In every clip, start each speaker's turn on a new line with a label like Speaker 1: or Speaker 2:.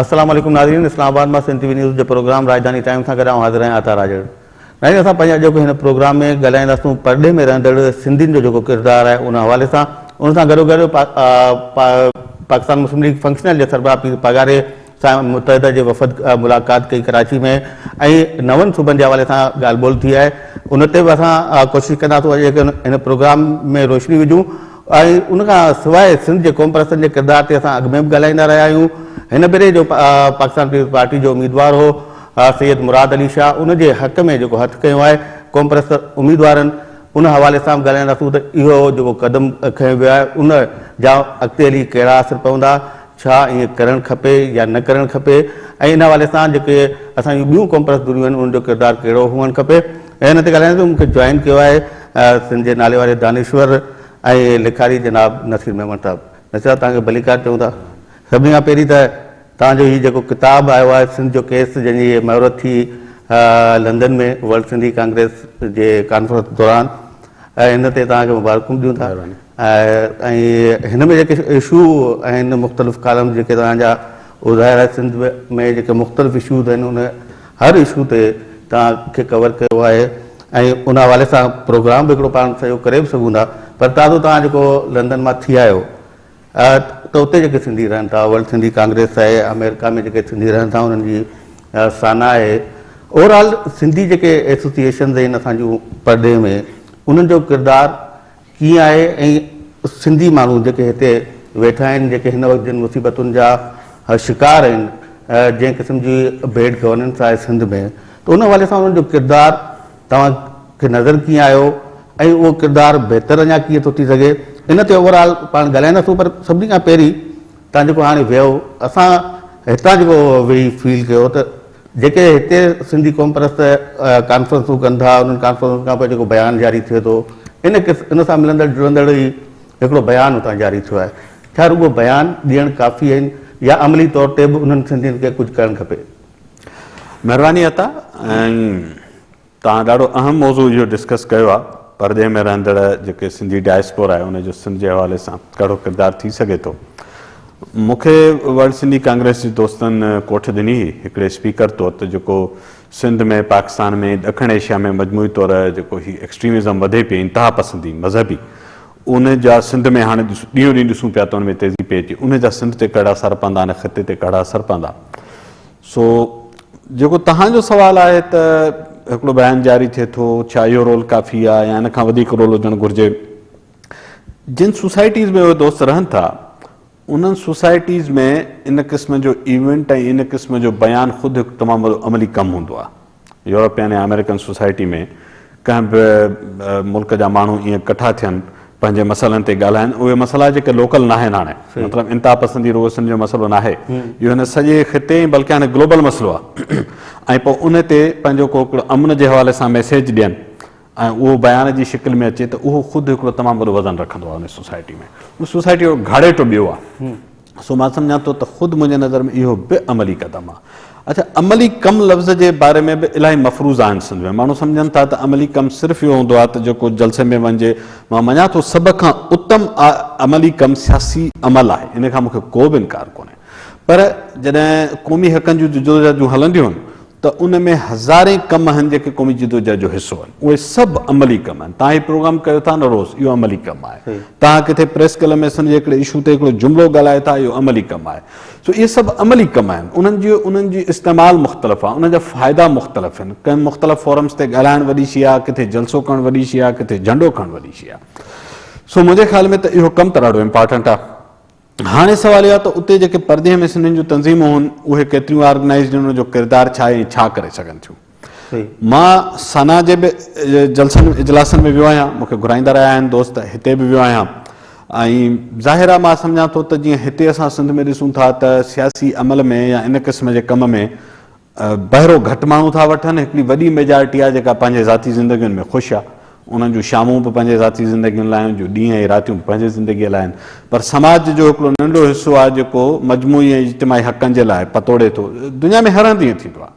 Speaker 1: السلام عليڪم ناظرين اسلام آباد مان سنڌ ٽي وي نيوز جو پروگرام راڄڌاني ٽائيم سان گڏ آئون حاضر آهيان عطا راڄڙ ناهيد اسان پنهنجي اڄوڪي هن پروگرام ۾ ڳالهائينداسون پرڏيهه ۾ رهندڙ سنڌين جو جيڪو ڪردار آهي ان حوالي سان ان سان گڏوگڏ پاڪستان مسلم ليگ فنڪشنل جي سربراهه پير پاڳاري سان متحده جي وفد ملاقات ڪئي ڪراچي ۾ ۽ نون صوبن جي حوالي سان ڳالهه ٻولهه ٿي آهي ان تي به اسان ڪوشش ڪنداسون اڄ جيڪي هن پروگرام ۾ روشني وجهون ۽ ان کان سواء سنڌ جي قوم پرستن جي ڪردار تي اسان اڳ ۾ به ڳالهائيندا رهيا آهيون هن ڀيري جو پاڪستان پيپلز پارٽي جو اميدوار هو آء سيد مراد علي شاهه ان جي حق ۾ جيڪو هٿ کنيو آهي قومپرست اميدوارن ان حوالي سان به ڳالهائينداسون ته اهو جيڪو قدم کنيو ويو آهي ان جا اڳتي هلي ڪهڙا اثر پوندا ڇا ائين ڪرڻ کپي يا نه ڪرڻ کپي ۽ ان حوالي سان جيڪي اسان جون ٻيون قومپرست ڌريون آهن ان جو ڪردار ڪهڙو هئڻ کپي ان تي ڳالهائينداسون مون کي جوائن ڪيو آهي سنڌ جي ناليواري دانشور ۽ لکاري جناب نصير ميمڻ صاحب نصير صاحب توهان کي ڀليڪار چئون ٿا سڀني کان پهرين ته توهان جو هي جيڪو ڪتاب آيو آهي سنڌ جو ڪيس جنهن جي مهورت ٿي لندن ۾ ورلڊ سنڌي ڪانگريس جي ڪانفرنس دوران ان تي توهان کي مبارڪون ڏيون ٿا ۽ هن ۾ جيڪي اشو آهن مختلف ڪالم جيڪي توهان جا اهو ظاهر آهي سنڌ ۾ جيڪي مختلف اشوز آهن ان هر اشو تي توهان کي ڪور ڪيو آهي ۽ ان حوالي سان پروگرام به هڪڙو پاڻ سڄو ڪري به سگهون ٿا پر تازو توهان جيڪو لندن مان ٿي آيو ته اتي جيڪي سنڌي رهن ٿا ورلڊ سنڌي ڪانگريس آهي آمريڪا ۾ جيڪي سنڌي رهن ٿا انهن جي سانا آهي اوور آل سنڌي جيڪي ايسوسيئيشنز آهن اسان جون پرڏيهه ۾ انهن جو ڪردار ڪيئن آهي ۽ سنڌي ماڻهو جيڪي هتي ويٺا آهن جيڪي هن وقت جن مصيبتن جا شڪار آهن جنهن قسم جي بيڊ گورننس آهي سنڌ ۾ ته ان حوالي سان انهن جو ڪردار توهان کي نظر ڪيئن آيو ۽ اهو ڪردار بهتر اڃا ڪيئن ٿو ٿي سگهي ان تي اوور آل پاڻ ڳالهائينداسون پر سڀني کان پهرين تان جيڪو هاڻي ويو اسان هتان جيڪو ويهي فيل ڪيو ته جيڪي هتي سنڌي قوم پرست ڪانفرنسون ڪن ٿا انهن ڪانفرنسن کان پوء جيڪو بيان جاري ٿئي ٿو ان ان سان ملندڙ جڙندڙ ئي هڪڙو بيان اتان جاري ٿيو آهي ڇا رڳو بيان ڏيڻ ڪافي آهن يا عملي طور تي به انهن سنڌين کي ڪجهه ڪرڻ کپي
Speaker 2: مھرباني عطا ۽ توھان ڏاڍو اھم موضوع اھو ڊسڪس ڪيو آ پردي ۾ رھندڙ جيڪي سنڌي ڊائسپور آھي ان جو سنڌ جي حوالي سان ڪھڙو ڪردار ٿي سگھي ٿو مون کي ورلڊ سنڌي ڪانگريس جي دوستن ڪوٺ ڏني ھئي ھڪڙي اسپيڪر طور ته جيڪو سنڌ ۾ پاڪستان ۾ ڏکڻ ايشيا ۾ مجموعي طور جيڪو ھي ايڪسٽريمزم وڌي پئي انتھا پسندي مذھبي ان جا سنڌ ۾ هاڻي ڏينهون ڏينهن ڏسون پيا ته ان ۾ تيزي پئي اچي ان جا سنڌ تي ڪهڙا اثر پوندا ان خطي تي ڪهڙا اثر پوندا سو جيڪو توهان جو سوال آهي ته هڪڙو بيان جاري ٿئي ٿو ڇا اهو رول ڪافي آهي يا ان کان وڌيڪ رول هجڻ گهرجي جن سوسائٽيز ۾ اهي دوست رهن ٿا انهن سوسائٽيز ۾ ان قسم جو ايونٽ ۽ ان قسم جو بيان خود هڪ تمام وڏو عملي ڪم هوندو آهي. يورپين يا آمريڪن سوسائٽي ۾ ڪنهن به ملڪ جا ماڻهو ائين ڪٺا ٿين، پنهنجي مسئلن تي ڳالهائين، اهي مسئلا جيڪي لوڪل ناهن هاڻي، مطلب انتها پسندي رڳو سنڌ جو مسئلو ناهي، اهو هن سڄي خطي ۽ بلڪه هاڻي گلوبل مسئلو آهي ۽ پوء ان تي پنهنجو ڪو هڪڙو امن جي حوالي سان ميسيج ڏين. ۽ اهو بيان جي شڪل ۾ اچي ته اهو خود هڪڙو تمام وڏو وزن رکندو آهي ان سوسائٽي ۾ ان سوسائٽي جو گهاڙيٽو ٻيو آهي سو مان سمجهان ٿو ته خود منهنجي نظر ۾ اهو به عملي قدم آهي اڇا عملي ڪم لفظ جي باري ۾ به الاهي مفروضا آهن سنڌ ۾ ماڻهو سمجهن ٿا ته عملي ڪم صرف اهو هوندو آهي ته جيڪو جلسي ۾ وڃجي مان مڃان ٿو سڀ کان اتم عملي ڪم سياسي عمل آهي ان کان مون کي ڪو به انڪار ڪونهي پر جڏهن قومي حقن جون جدوجهد جون هلنديون آهن ته ان ۾ هزارين ڪم آهن جيڪي قومي جدوجهد جو حصو آهن. اهي سڀ عملي ڪم آهن. توهان هي پروگرام ڪيو ٿا نه روز، اهو عملي ڪم آهي. توهان ڪٿي پريس ڪلب ۾ سنڌ جي هڪڙي اشو تي هڪڙو جملو ڳالهايو ٿا، اهو عملي ڪم آهي. سو اهي سڀ عملي ڪم آهن. انهن جي انهن جي استعمال مختلف آهي. انهن جا فائدا مختلف آهن. ڪنهن مختلف فورمز تي ڳالهائڻ وڏي شيء آهي، ڪٿي جلسو ڪرڻ وڏي شيء آهي، ڪٿي جهنڊو کڻڻ وڏي شيء آهي. سو منهنجي خيال ۾ ته اهو ڪم ته ڏاڍو امپارٽنٽ آهي. هاڻي سوال اهو آهي ته اتي جيڪي پرڏيهه ۾ سنڌين جون تنظيمون هن اهي ڪيتريون آرگنائيزڊ هن انهن جو ڪردار ڇا آهي ۽ ڇا ڪري سگهن ٿيون. مان سنا جي به جلسن اجلاسن ۾ ويو آهيان مون کي گهرائيندا رهيا آهن دوست هتي به ويو آهيان ۽ ظاهر آهي مان سمجهان ٿو ته جيئن هتي اسان سنڌ ۾ ڏسون ٿا ته سياسي عمل ۾ يا ان قسم جي ڪم ۾ بهرو گهٽ ماڻهو ٿا وٺن، هڪڙي وڏي ميجارٽي آهي جيڪا پنهنجي ذاتي زندگين ۾ خوش آهي، انهن جون شامون به پنهنجي ذاتي زندگين لاء آهن، جو ڏينهن ۽ راتيون به پنهنجي زندگيء لاء آهن، پر سماج جو هڪڙو ننڍو حصو آهي جيڪو مجموعي ۽ اجتماعي حقن جي لاء پتوڙي ٿو، دنيا ۾ هر هنڌ ائين ٿيندو آهي،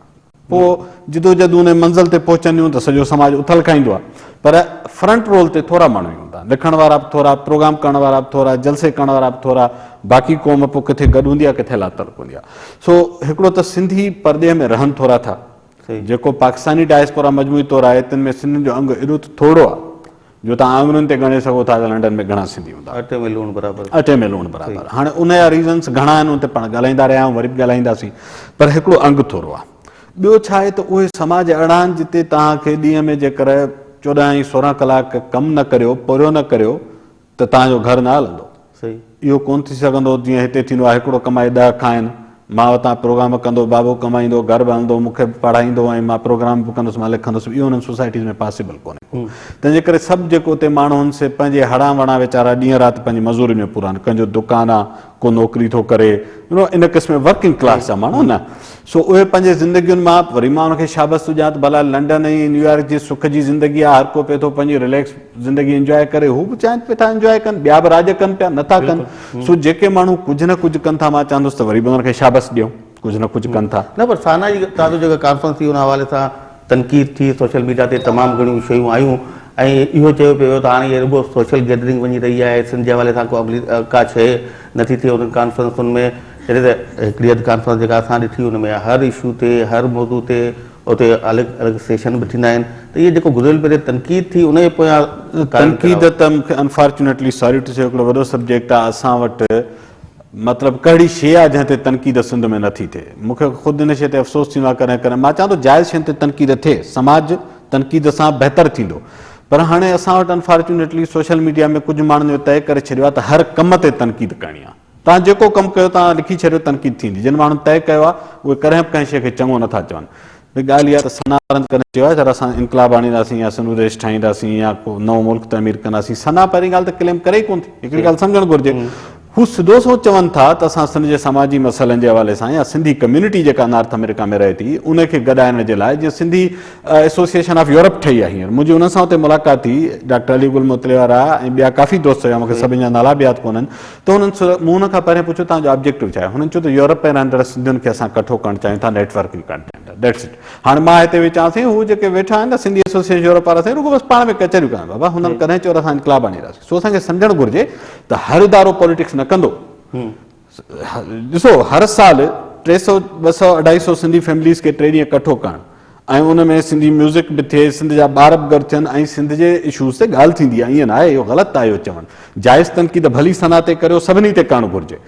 Speaker 2: پوء جدوجهد ان منزل تي پهچنديون ته سڄو سماج اٿل کائيندو آهي، پر فرنٽ رول تي ٿورا ماڻهو ئي هوندا، لکڻ وارا به ٿورا، پروگرام ڪرڻ وارا به ٿورا، جلسي ڪرڻ وارا به ٿورا، باقي قوم پوء ڪٿي گڏ هوندي آهي ڪٿي لاتعلق هوندي آهي. سو هڪڙو ته سنڌي پرڏيهه ۾ رهن ٿورا ٿا جيڪو پاڪستاني ڊائسپورا مجموعي طور آهي تن ۾ سنڌين جو انگ ايڏو ته ٿورڙو آهي جو تهان آڱرين تي ڳڻي سگهو ٿا ته لنڊن ۾ گهڻا سنڌي هوندا اٽي ۾ لوڻ برابر
Speaker 1: اٽي ۾ لوڻ برابر
Speaker 2: هاڻي ان جا ريزنس گهڻا آهن ان تي پاڻ ڳالهائيندا رهيا آهيون وري به ڳالهائينداسين پر هڪڙو انگ ٿورڙو آهي ٻيو ڇا آهي ته اهي سماج اهڙا آهن جتي تهان کي ڏينهن ۾ جيڪر چوڏهن ۽ سورهن ڪلاڪ ڪم نه ڪريو پورهيو نه ڪريو ته توهان جو گهر نه هلندو. اهو ڪونه
Speaker 1: ٿي سگهندو
Speaker 2: جيئن هتي ٿيندو آهي هڪڙو ڪمائي ڏهه کائين. مان وتان پروگرام ڪندو، بابو ڪمائيندو، گهر به هلندو، مون کي به پڙهائيندو ۽ مان پروگرام به ڪندس، مان لکندس به. اهو انهن سوسائٽيز ۾ پاسيبل ڪونهي ڪو. تنهن جي ڪري سڀ جيڪو اتي ماڻهو هن سي پنهنجي هڙان وڙان ويچارا ڏينهن رات پنهنجي مزوري ۾ پورا آهن. ڪنهن جو دڪان آ. ڪو نوڪري ٿو ڪري ان قسم جي ورڪنگ ڪلاس جا ماڻهو نه سو اهي پنهنجي زندگين مان وري مان ان کي شابس ٿو ڏيان ته ڀلا لنڊن ۽ نيويارڪ جي سک جي زندگي آهي هر ڪو پئي ٿو پنهنجي رليڪس زندگي انجواء ڪري هو به چاهين پئي ٿا انجواء ڪن ٻيا به راڄ ڪن پيا نٿا ڪن سو جيڪي ماڻهو ڪجهه نه ڪجهه ڪن ٿا مان چاهندس ته وري به انهن کي شابس ڏيون ڪجهه نه ڪجهه ڪن ٿا. نه پر سانا جي تازو
Speaker 1: جيڪا ڪانفرنس ٿي ان حوالي سان تنقيد ٿي سوشل ميڊيا تي تمام گهڻيون شيون آيون ۽ اهو چيو پيو ويو ته هاڻي هي رڳو سوشل گيدرنگ وڃي رهي آهي سنڌ جي حوالي سان ڪو عملي ڪا شي نٿي ٿئي انهن ڪانفرنسن ۾ جڏهن ته هڪڙي اڌ ڪانفرنس جيڪا اسان ڏٺي ان ۾ هر اشو تي هر موضوع تي اتي الڳ الڳ سيشن به ٿيندا آهن ته اهي جيڪو گذريل ڀيري تنقيد ٿي ان جي پويان تنقيد ته
Speaker 2: مون کي انفارچونيٽلي ساري ٽو سي هڪڙو وڏو سبجيڪٽ آهي اسان وٽ مطلب ڪهڙي شيء آ جنهن تي تنقيد سنڌ ۾ نه ٿي ٿئي. مون کي خود ان شيء تي افسوس ٿيندو آ ڪڏهن ڪڏهن. مان چوان ٿو جائز شين تي تنقيد ٿئي. سماج تنقيد سان بهتر ٿيندو. پر هاڻي اسان وٽ انفارچونيٽلي سوشل ميڊيا ۾ ڪجهه ماڻهن اهو طئي ڪري ڇڏيو آ ته هر ڪم تي تنقيد ڪرڻي آ. توهان جيڪو ڪم ڪيو توهان لکي ڇڏيو تنقيد ٿيندي. جن ماڻهن طئي ڪيو آ اهي ڪڏهن به ڪنهن شيء کي چڱو نه ٿا چون. به ڳالهه اها ته ثنا رند ڪڏهن چيو آهي ته اسان انقلاب آڻينداسين يا سنڌو ديش ٺاهينداسين يا ڪو نئون ملڪ تعمير ڪنداسين؟ ثنا پهرين ڳالهه ته ڪليم ڪري ئي ڪونه ٿي. هڪڙي ڳالهه سمجهڻ گهرجي. هو سڌو سنئون چون ٿا ته اسان سنڌ جي سماجي مسئلن جي حوالي سان يا سنڌي ڪميونٽي جيڪا نارٿ آمريڪا ۾ رهي ٿي ان کي گڏائڻ جي لاء جيئن سنڌي ايسوسيئيشن آف يورپ ٺهي آهي هينئر منهنجي انهن سان اتي ملاقات ٿي ڊاڪٽر علي گل متليوارا ۽ ٻيا ڪافي دوست هيا مون کي سڀني جا نالا به ياد ڪونهن تو هنن مون هن کان پهرين پڇيو توهان جو آبجيڪٽو ڇا آهي؟ هنن چيو ته يورپ ۾ رهندڙ سنڌين کي اسان ڪٺو ڪرڻ چاهيون ٿا networking content that's it هاڻي مان هتي ويهي چوان سائين هو جيڪي ويٺا آهن نه سنڌي ايسوسيئيشن يورپ وارا سائين رڳو بس پاڻ ۾ ڪچهريون ڪن بابا هنن ڪڏهن چيو ته اسان انقلاب آڻي اينداسين سو اسان کي سمجهڻ گهرجي ته هر ادارو پوليٽڪس نه ڪندو ڏسو هر سال ٽي سئو ٻه سئو اڍائي سئو سنڌي فيمليز کي ٽي ڏينهن ڪٺو ڪرڻ ۽ ان ۾ سنڌي ميوزڪ به ٿئي سنڌ جا ٻار به گڏ ٿين ۽ سنڌ جي اشوز تي ڳالهه ٿيندي ائين نه آهي اهو غلط آهي اهو چوڻ جائز تنقيد ڀلي ثنا تي ڪريو سڀني تي ڪرڻ گهرجي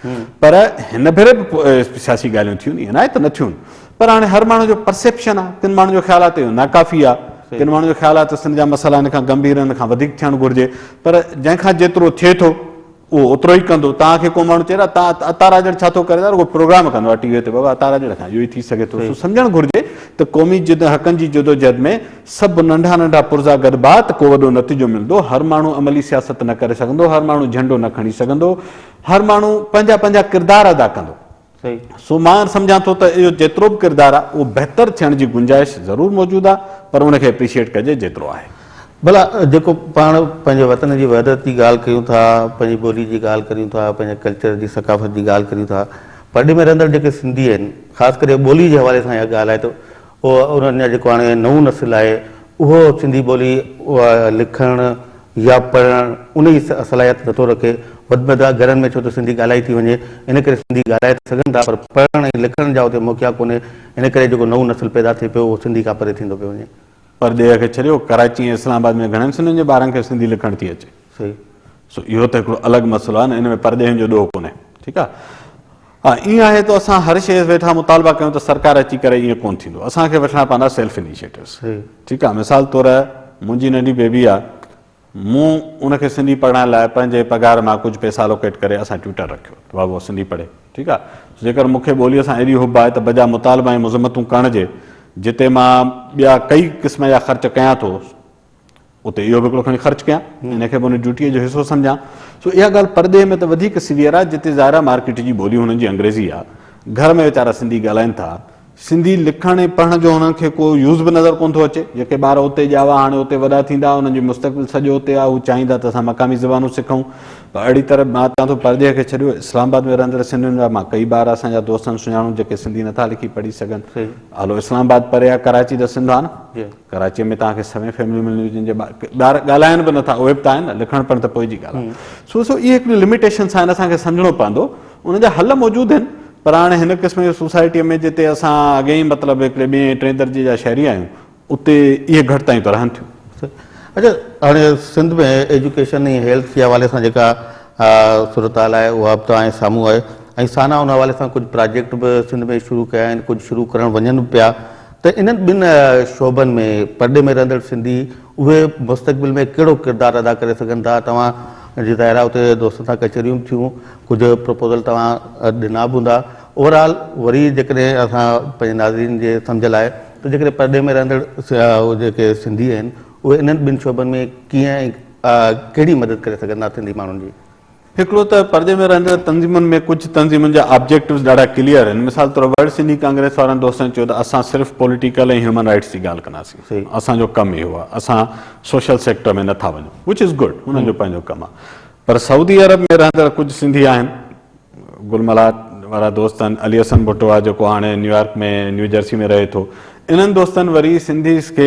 Speaker 2: پر هن ڀيري به سياسي ڳالهيون ٿيون ائين نه آهي ته نه ٿيون پر هاڻي هر ماڻهو جو پرسيپشن آهي ڪن ماڻهن جو خيال آهي ته اهو ناڪافي آهي ڪن ماڻهن جو خيال آهي ته سنڌ جا مسئلا هن کان گنڀير هن کان وڌيڪ ٿيڻ گهرجي پر جنهن کان جيترو ٿئي ٿو اهو اوترو ئي ڪندو. توهان کي ڪو ماڻهو چئي ته اتان عطا راڄڙ ڇا ٿو ڪري ته رڳو پروگرام ڪندو آهي ٽي وي تي بابا عطا راڄڙ کان اهو ئي ٿي سگهي ٿو سو سمجهڻ گهرجي ته قومي جد حقن جي جدوجهد ۾ سڀ ننڍا ننڍا پرزا گڏ با ته ڪو وڏو نتيجو ملندو هر ماڻهو عملي سياست نه ڪري سگهندو هر ماڻهو جهنڊو نه کڻي سگهندو هر ماڻهو پنهنجا پنهنجا ڪردار ادا ڪندو سو مان سمجهان ٿو ته اهو جيترو به ڪردار آهي اهو بهتر ٿيڻ جي گنجائش ضرور موجود آهي پر ان کي اپريشيئيٽ ڪجي جيترو آهي. ڀلا جيڪو
Speaker 1: پاڻ پنهنجي وطن جي وحدت جي ڳالهه ڪيون ٿا، پنهنجي ٻولي جي ڳالهه ڪريون ٿا، پنهنجي ڪلچر جي ثقافت جي ڳالهه ڪريون ٿا، پرڏيهه ۾ رهندڙ جيڪي سنڌي آهن خاص ڪري ٻولي جي حوالي سان اها ڳالهه آهي ته پوء انهن جا جيڪو هاڻي نئون نسل آهي اهو سنڌي ٻولي لکڻ يا پڙهڻ ان جي صلاحيت نٿو رکي وڌ ۾ وڌ گهرن ۾ ڇو ته سنڌي ڳالهائي ٿي وڃي ان ڪري سنڌي ڳالهائي ته سگهن ٿا پر پڙهڻ ۽ لکڻ جا اتي موقعا ڪونهي ان ڪري جيڪو نئون نسل پيدا ٿئي پيو اهو سنڌي کان پري ٿيندو پيو وڃي. پرڏيهه کي ڇڏيو
Speaker 2: ڪراچي ۽ اسلام آباد ۾ گهڻن سنڌين جي ٻارن کي سنڌي لکڻ ٿي اچي. صحيح سو
Speaker 1: اهو ته
Speaker 2: هڪڙو الڳ مسئلو آهي نه ان ۾ پرڏيهين جو ڏوهه ڪونهي ٺيڪ آهي ها ائين آهي ته اسان هر شيء ويٺا مطالبا ڪيون ته سرڪار اچي ڪري ائين ڪونه ٿيندو اسان کي وٺڻا پوندا سيلف انيشيٽوز ٺيڪ آهي مثال طور منهنجي ننڍي بيبي آهي مون ان کي سنڌي پڙهائڻ لاء پنهنجي پگهار مان ڪجهه پئسا الوڪيٽ ڪري اسان ٽيوٽر رکيو ته بابو سنڌي پڙهي ٺيڪ آهي جيڪر مون کي ٻوليء سان ايڏي حب آهي ته بجا مطالبا ۽ مذمتون ڪرڻ جي جتي مان ٻيا ڪئي قسم جا خرچ ڪيان ٿو اتي اهو به هڪڙو کڻي خرچ ڪيان ان کي به ان ڊيوٽيء جو حصو سمجهان سو اها ڳالهه پرڏيهه ۾ ته وڌيڪ سيويئر آهي جتي ظاهر آهي مارڪيٽ جي ٻولي هنن جي انگريزي آهي گهر ۾ ويچارا سنڌي ڳالهائين ٿا سنڌي لکڻ ۽ پڙهڻ جو هنن کي ڪو يوز به نظر ڪونه ٿو اچي جيڪي ٻار اتي ڄاوا هاڻي اتي وڏا ٿيندا انهن جو مستقبل سڄو اتي آهي هو چاهيندا ته اسان مقامي زبانون سکون پر اهڙي طرح مان چوان ٿو پرڏيهه کي ڇڏيو اسلام آباد ۾ رهندڙ سنڌين جا مان ڪئي ٻار اسان جا دوستن سڃاڻون جيڪي سنڌي نٿا لکي پڙهي سگهن هلو اسلام آباد پري آهي ڪراچي ته سنڌ آهي نه ڪراچيء ۾ توهان کي سوين فيمليون ملنديون جن جي ٻار ڳالهائن به نٿا اهي به ته آهن نه لکڻ پڙهڻ ته پوء جي ڳالهه آهي سو سو اهي هڪڙيون لميٽيشنس آهن اسان کي سمجهڻو پوندو ان جا حل موجود آهن پر هاڻي هن قسم جي سوسائٽيء ۾ جتي اسان اڳي ئي مطلب هڪڙي ٻئي ۽ ٽئين درجي جا شهري آهيون اتي اهي گهٽ تائين ته رهن ٿيون. اچا هاڻي
Speaker 1: سنڌ ۾ ايجوڪيشن ۽ هيلٿ جي حوالي سان جيڪا صورتحال آهي اها به توهان جي سامهون آهي ۽ سانا ان حوالي سان ڪجهه پراجيڪٽ به سنڌ ۾ شروع ڪيا آهن ڪجهه شروع ڪرڻ وڃن به پيا ته انهن ٻن شعبن ۾ پرڏيهه ۾ رهندڙ سنڌي اهي مستقبل ۾ ڪهڙو ڪردار ادا ڪري سگهن ٿا توهان جي ظاهر آهي اتي دوستن سان ڪچهريون به ٿيون ڪجهه پروپوزل توهان ڏنا به هوندا اوور آل وري جيڪڏهن اسان پنهنجي ناظرين جي سمجهه لاء ته جيڪڏهن پرڏيهه ۾ رهندڙ جيڪي سنڌي آهن اهي انهن ٻن شعبن ۾ ڪيئن ۽ ڪهڙي مدد ڪري سگهن ٿا سنڌي ماڻهن جي. هڪڙو ته پردي
Speaker 2: ۾ رهندڙ تنظيمن ۾ ڪجهه تنظيمن جا آبجيڪٽوز ڏاڍا ڪليئر آهن مثال طور ورلڊ سنڌي ڪانگريس وارن دوستن چيو ته اسان صرف پوليٽيڪل ۽ هيومن رائيٽس جي ڳالهه ڪنداسين اسان جو ڪم اهو آهي اسان سوشل سيڪٽر ۾ نٿا وڃون وچ از گڊ انهن جو پنهنجو ڪم آهي پر سعودي عرب ۾ رهندڙ ڪجهه سنڌي آهن گل ملهار وارا دوست آهن علي حسن ڀٽو آهي جيڪو هاڻي نيويارڪ ۾ نيوجرسي ۾ رهي ٿو انهن دوستن وري سنڌيز کي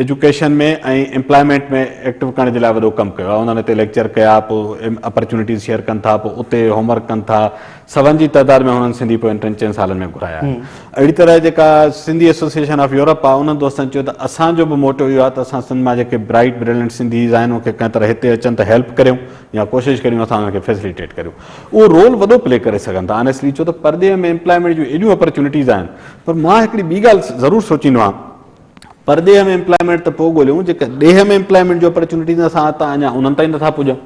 Speaker 2: ايجوڪيشن ۾ ۽ امپلائمينٽ ۾ ايڪٽو ڪرڻ جي لاء وڏو ڪم ڪيو آهي. انهن هتي ليڪچر ڪيا، پوء اپرچونيٽيز شيئر ڪن ٿا، پوء اتي هوم ورڪ ڪن ٿا. سون جي تعداد ۾ هنن سنڌي پوين ٽن چئن سالن ۾ گهرايا آهن. اهڙي طرح جيڪا سنڌي ايسوسيئيشن آف يورپ آهي، انهن دوستن چيو ته اسان جو به موٽو اهو آهي ته اسان سنڌ مان جيڪي برائيٽ بريلنٽ سنڌيز آهن، انهن کي ڪنهن طرح هتي اچن ته هيلپ ڪريون يا ڪوشش ڪريون اسان انهن کي فيسليٽيٽ ڪريون. اهو رول وڏو پلي ڪري سگهن ٿا. آنيسٽلي چيو ته پرڏيهه ۾ امپلائمينٽ جون ايڏيون اپرچونيٽيز آهن پر مان هڪڙي ٻي ڳالهه ضرور سوچيندو آهيان پرڏيهه ۾ امپلائمينٽ ته پوء ڳوليون جيڪي ڏيهه ۾ امپلائمينٽ جو اپرچونيٽيز اسان هتان اڃا انهن تائين نٿا پڄون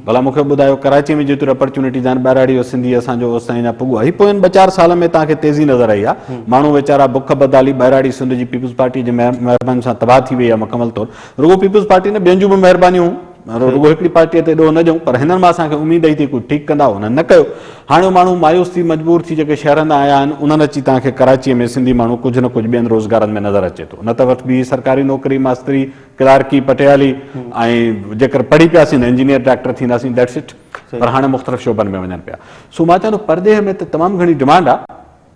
Speaker 2: ڀلا مون کي ٻڌايو ڪراچي ۾ جيتريون اپرچونيٽيز آهن ٻهراڙي جو سنڌي اسان جو اوس تائين اڃا پڳو آهي پوئين ٻه چار سالن ۾ توهان کي تيزي نظر آئي آهي ماڻهو ويچارا بک بدالي ٻهراڙي سنڌ جي پيپلز پارٽي جي مهرباني سان تباهه ٿي وئي آهي مڪمل طور رڳو پيپلز پارٽي نه ٻين جون به مهربانيون رڳو هڪڙي پارٽيء تي ڏوهه نه ڏيون، پر هنن مان اسان کي اميد هئي ته ڪجهه ٺيڪ ڪندا، هنن نه ڪيو. هاڻي ماڻهو مايوس ٿي، مجبور ٿي جيڪي شهرن تان آيا آهن، انهن اچي توهان کي ڪراچيء ۾ سنڌي ماڻهو ڪجهه نه ڪجهه ٻين روزگارن ۾ نظر اچي ٿو. نه ته وٽ بيهي سرڪاري نوڪري، ماستري، ڪلارڪي، پٽيالي ۽ جيڪر پڙهي پياسين ته انجنيئر، ڊاڪٽر ٿينداسين That's it. پر هاڻي مختلف شعبن ۾ وڃن پيا. سو مان چوان ٿو پرڏيهه ۾ ته تمام گهڻي ڊمانڊ آ.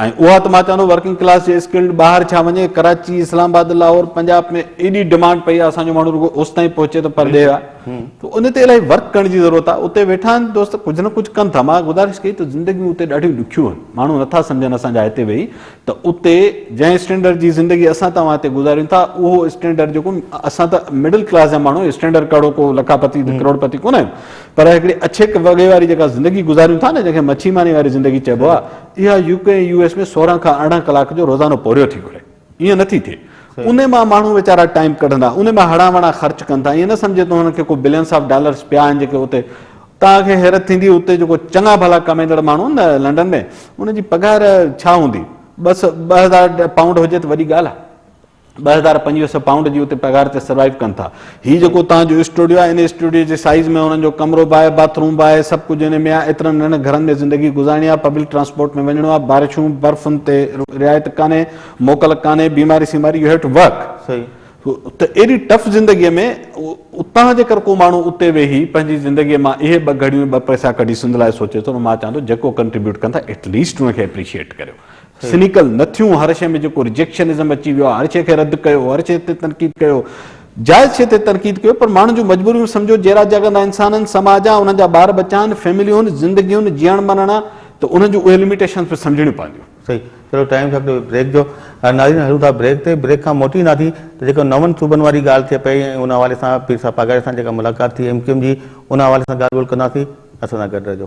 Speaker 2: ۽ اها ته مان چوان ٿو ورڪنگ ڪلاس جي اسڪلڊ ٻاهر ڇا وڃي ڪراچي اسلام آباد لاهور پنجاب ۾ ايڏي ڊمانڊ پئي آهي اسان جو ماڻهو رڳو اوستائين پهچي ته پرڏيهه آهي ته ان تي الاهي ورڪ ڪرڻ جي ضرورت آهي اتي ويٺا آهن دوست ڪجهه نه ڪجهه ڪن ٿا مان گذارش ڪئي ته زندگيون اتي ڏاڍيون ڏکيون آهن ماڻهو نٿا سمجهن اسان جا هتي ويهي ته اتي جنهن اسٽينڊرڊ جي زندگي اسان توهان هتي گذاريون ٿا اهو اسٽينڊرڊ جيڪو اسان ته مڊل ڪلاس جا ماڻهو اسٽينڊرڊ ڪهڙو ڪو لکا پتي ڪروڙ پتي ڪونه آهيون پر هڪڙي اڇيڪ وڳي واري جيڪا زندگي گذاريون ٿا نه جنهن کي مڇي ماني واري زندگي چئبو آهي اها يو ڪي ۽ يو ايس ۾ سورهن کان ارڙهن ڪلاڪ جو روزانو پورهيو ٿي گهري. ائين نٿي ٿئي. انهي مان ماڻهو ويچارا ٽائيم ڪڍندا. انهي مان هڙان وڙان خرچ ڪن ٿا. ائين نه سمجهي ته هنن کي ڪو بلينس آف ڊالرس پيا آهن جيڪي اتي توهان کي حيرت ٿيندي اتي جيڪو چڱا ڀلا ڪمائيندڙ ماڻهو آهن نه لنڊن ۾ انهن جي پگهار ڇا هوندي. بس ٻه هزار پائونڊ هجي ته وڏي ڳالهه آهي. ٻه هزار پنجويهه سئو پائونڊ جي اتي پگهار تي سروائيو ڪن ٿا. هي جيڪو توهان جو اسٽوڊيو آهي، ان اسٽوڊيو جي سائيز ۾ هنن جو ڪمرو به آهي، باٿ روم به آهي، سڀ ڪجهه ان ۾ آهي. ايترن ننڍن گهرن ۾ زندگي گذارڻي آهي، پبلڪ ٽرانسپورٽ ۾ وڃڻو آهي، بارشون، برفن تي رعايت ڪانهي، موڪل ڪانهي، بيماري سيماري، يو هيو ٽو ورڪ. ته ايڏي ٽف زندگيء ۾ اتان جيڪر ڪو ماڻهو اتي ويهي پنهنجي زندگيء مان اهي ٻه گهڙيون ٻه پئسا ڪڍي سنڌ لاء سوچي ٿو ته مان چوان ٿو جيڪو ڪنٽريبيوٽ ڪن ٿا ايٽليسٽ ان کي اپريشيئيٽ ڪريو. سنيڪل نه ٿيون، هر شيء ۾ جيڪو رجيڪشنزم اچي ويو آهي، هر شيء کي رد ڪيو، هر شيء تي تنقيد ڪيو، جائز شيء تي تنقيد ڪيو، پر ماڻهن جون مجبوريون سمجهو، جيئرا جاڳندا انسان آهن، سماج آهي، انهن جا ٻار ٻچا آهن، فيمليون آهن، زندگيون، جيئڻ مرڻ آهي ته انهن جون اهي لميٽيشنز به سمجهڻيون پونديون. صحيح. چلو ٽائيم
Speaker 1: ٿيو آهي بريڪ جو. ناظرين هلون ٿا بريڪ تي، بريڪ کان موٽي اينداسين ته جيڪو نون صوبن واري ڳالهه ٿئي پئي ۽ ان حوالي سان پير صاحب پاڳاري سان جيڪا ملاقات ٿي ايم ڪيو ايم جي ان حوالي سان ڳالهه ٻولهه ڪنداسين، اسان سان گڏ رهجو.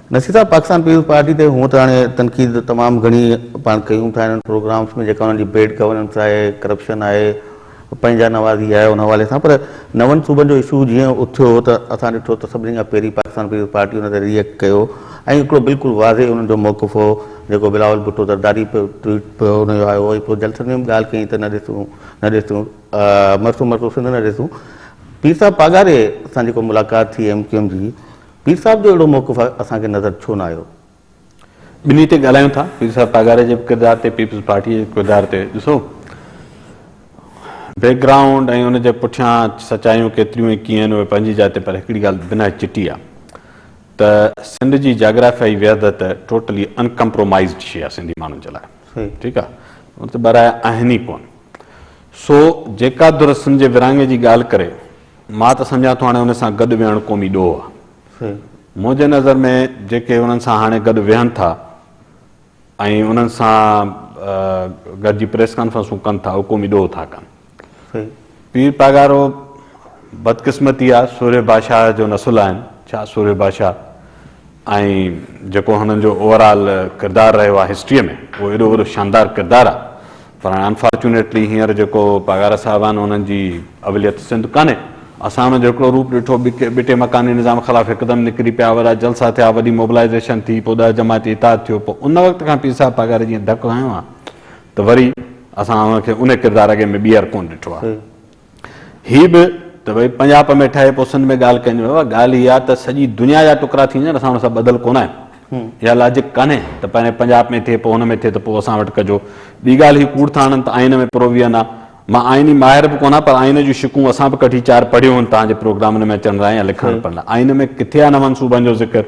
Speaker 1: نصير صاحب پاڪستان پيپلز پارٽي تي هونء ته هاڻي تنقيد تمام گهڻي پاڻ ڪيون ٿا انهن پروگرامز ۾ جيڪا انهن جي بيڊ گورننس آهي ڪرپشن آهي پنهنجا نوازي آهي ان حوالي سان پر نون صوبن جو اشو جيئن اٿيو ته اسان ڏٺو ته سڀني کان پهرين پاڪستان پيپلز پارٽي ان تي ري ايڪٽ ڪيو ۽ هڪڙو بلڪل واضح انهن جو موقف هو جيڪو بلاول ڀٽو زرداري پيو ٽوئيٽ پيو ان جو آيو هو ۽ پوء جلسن ۾ به ڳالهه ڪئي ته نه ڏسون نه ڏسون مرسو مرسو سنڌ نه ڏسون پير صاحب پاڳاري سان جيڪو ملاقات ٿي ايم ڪيو ايم جي پير صاحب جو اهڙو موقف اسان کي نظر ڇو نه آيو؟ ٻنهي
Speaker 2: تي ڳالهايون ٿا، پير صاحب پاڳاري جي به ڪردار تي پيپلز پارٽيء جي ڪردار تي ڏسو، بيڪ گرائونڊ ۽ ان جي پٺيان سچايون ڪيتريون ۽ ڪيئن آهن اهي پنهنجي جاء تي پر هڪڙي ڳالهه به نهايت چٽي آهي ته سنڌ جي جاگرافيائي وحدت ٽوٽلي ان ڪمپرومائيزڊ شيء آهي سنڌي ماڻهن جي لاء ٺيڪ آهي ان تي ٻه راء آهن ئي ڪونه سو جيڪا ڌر سنڌ جي ورهاڱي جي ڳالهه ڪري مان ته سمجهان ٿو هاڻي ان سان گڏ ويهڻ قومي ڏوهه آ. منهنجي نظر ۾ جيڪي انهن سان هاڻي گڏ ويهن ٿا ۽ انهن سان گڏجي پريس ڪانفرنسون ڪن ٿا اهو قومي ڏوهه ٿا ڪن. پير پاڳارو بدقسمتي آ سورهيه بادشاهه جو نسل آهن ڇا سورهيه بادشاهه ۽ جيڪو هنن جو اوور آل ڪردار رهيو آهي هسٽريء ۾ اهو ايڏو وڏو شاندار ڪردار آهي پر هاڻي انفارچونيٽلي هينئر جيڪو پاڳارا صاحب آهن انهن جي اوليت سنڌ ڪانهي اسان انهن جو هڪڙو روپ ڏٺو ٻي ٽي مڪاني نظام خلاف هڪدم نڪري پيا وڏا جلسا ٿيا وڏي موبلائيزيشن ٿي پوء ڏهه جماعتي اتحاد ٿيو پوء ان وقت کان پير صاحب پاڳاري جيئن ڌڪ هنيو آهي ته وري اسان ان کي ان ڪردار اڳي ۾ ٻيهر ڪونه ڏٺو آهي هي به ته ڀئي پنجاپ ۾ ٺهي پوء سنڌ ۾ ڳالهه ڪئي نه ويو آهي. ڳالهه هي آهي ته سڄي دنيا جا ٽڪرا ٿي وڃن، اسان ان سان ٻڌل ڪونه آهيون. اها لاجڪ ڪانهي ته پهرين پنجاپ ۾ ٿئي، پوء ان ۾ ٿئي ته پوء اسان وٽ ڪجو. ٻي ڳالهه هي ڪوڙ ٿا هڻن ته آئين ۾ پروويئن آهي. مان آئيني ماهر به ڪونه آهيان پر آئين جون شقون اسان به ڪڍي چار پڙهيون هن توهان جي پروگرامن ۾ اچڻ لاء يا لکڻ پڙهڻ لاء. آئين ۾ ڪٿي آهي نون صوبن جو ذڪر؟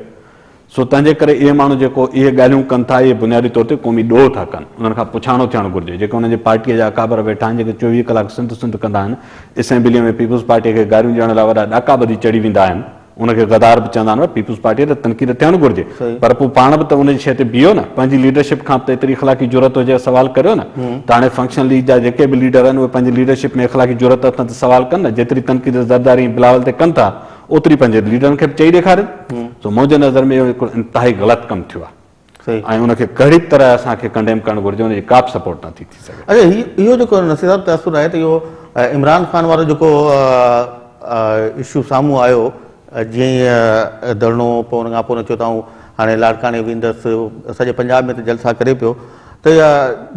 Speaker 2: سو تنهن جي ڪري اهي ماڻهو جيڪو اهي ڳالهيون ڪن ٿا اهي بنيادي طور تي قومي ڏوهه ٿا ڪن. انهن کان پڇاڻو ٿيڻ گهرجي. جيڪي انهن جي پارٽيء جا اڪابر ويٺا آهن جيڪي چوويهه ڪلاڪ سنڌ سنڌ ڪندا آهن، اسيمبليء ۾ پيپلز پارٽيء کي گاريون ڏيڻ لاء وڏا ڏاڪا ٻڌي چڙهي ويندا آهن، ان کي غدار به چوندا آهن، پيپلز پارٽيء تي تنقيد ٿيڻ گهرجي پر پوء پاڻ به ته ان جي شيء تي بيهو نه. پنهنجي ليڊرشپ کان به ته ايتري اخلاقي جرئت هجي ها سوال ڪريو نه. ته هاڻي فنڪشن ليگ جا جيڪي به ليڊر آهن اهي پنهنجي ليڊرشپ ۾ اخلاقي جرئت اٿن ته سوال ڪن نه. جيتري تنقيد زرداري ۽ بلاول تي ڪن ٿا، اوتري پنهنجي ليڊرن کي به چئي ڏيکارين سو منهنجي نظر ۾ اهو هڪڙو انتهائي غلط ڪم ٿيو آهي ۽ ان کي ڪهڙي به طرح اسان کي ڪنڊيم ڪرڻ گهرجي ان جي ڪا به سپورٽ نه ٿي ٿي سگهي. اچا هي اهو جيڪو
Speaker 1: نصير صاحب تاثر آهي ته اهو عمران خان وارو جيڪو اشو سامهون آيو جيئن ئي ڌرڻو پوء ان کان پوء چيو ته آئون هاڻي لاڙڪاڻي ويندس سڄي پنجاب ۾ ته جلسا ڪري پيو ته اها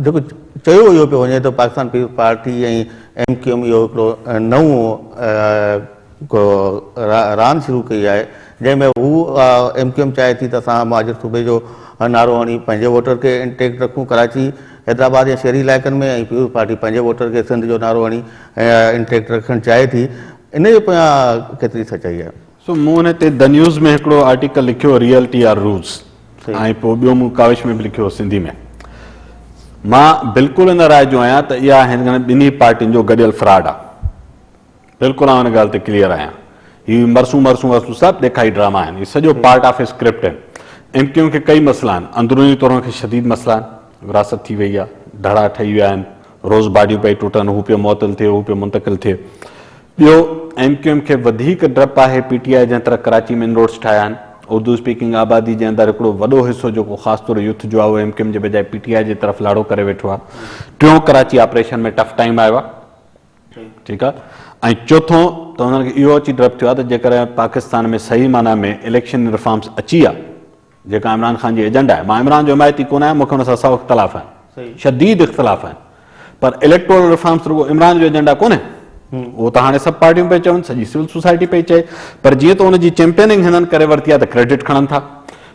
Speaker 1: جيڪو چيو اهو پيو وڃي ته Pakistan Peoples Party ۽ M Q M اهو هڪڙو نئون راند شروع ڪئي آهي جنهن ۾ هو ايم ڪيو ايم چاهي ٿي ته اسان مهاجر صوبي جو نعرو هڻي پنهنجي ووٽر کي انٽيڪٽ رکون ڪراچي حيدرآباد يا شهري علائقن ۾ ۽ پيپلز پارٽي پنهنجي ووٽر کي سنڌ جو نعرو هڻي انٽيڪٽ رکڻ چاهي ٿي ان جي پويان ڪيتري سچائي آهي. سو مون ان تي
Speaker 2: دنيوز ۾ هڪڙو آرٽيڪل لکيو ريئل ٽي آر روز ۽ پوء ٻيو مون ڪاوش ۾ به لکيو سنڌي ۾ مان بلڪل ان راء جو آهيان ته اها هن ٻنهي پارٽين جو گڏيل فراڊ آهي بلڪل آئون ان ڳالهه تي ڪليئر آهيان هي مرسون مرسون وسون سڀ ڏيکائي ڊراما آهن هي سڄو پارٽ آف اسڪرپٽ آهن ايم ڪيو ايم کي ڪئي مسئلا آهن اندروني طور ان کي شديد مسئلا آهن وراثت ٿي وئي آهي ڌڙا ٺهي ويا آهن روز باڊيون پئي ٽٽن هو پيو معطل ٿئي هو پيو منتقل ٿئي ٻيو ايم ڪيو ايم کي وڌيڪ ڊپ آهي پي ٽي آء جنهن طرح ڪراچي ۾ ان روڊس ٺاهيا آهن اردو اسپيڪنگ آبادي جي اندر هڪڙو وڏو حصو جيڪو خاص طور يوٿ جو آهي اهو ايم ڪيو ايم جي بجاء پي ٽي آء جي طرف لاڙو ڪري ويٺو آهي ٽيون ڪراچي آپريشن ۾ ٽف ٽائيم آيو آهي ٺيڪ آ ۽ چوٿون ته انهن کي اهو اچي ڊپ ٿيو آ ته جيڪر پاڪستان ۾ صحيح معنيٰ ۾ اليڪشن رفارمز اچي آ جيڪا عمران خان جي ايجنڊا آهي مان عمران جو حمايتي ڪونه آهيان مون کي ان سان سؤ اختلاف آهن شديد اختلاف آهن پر اليڪٽورل رفارمز رڳو عمران جو ايجنڊا ڪونه اهو ته هاڻي سڀ پارٽيون پئي چون سڄي سول سوسائٽي پئي چئي پر جيئن ته ان جي چيمپيننگ هنن ڪري ورتي آ ته ڪريڊٽ کڻن ٿا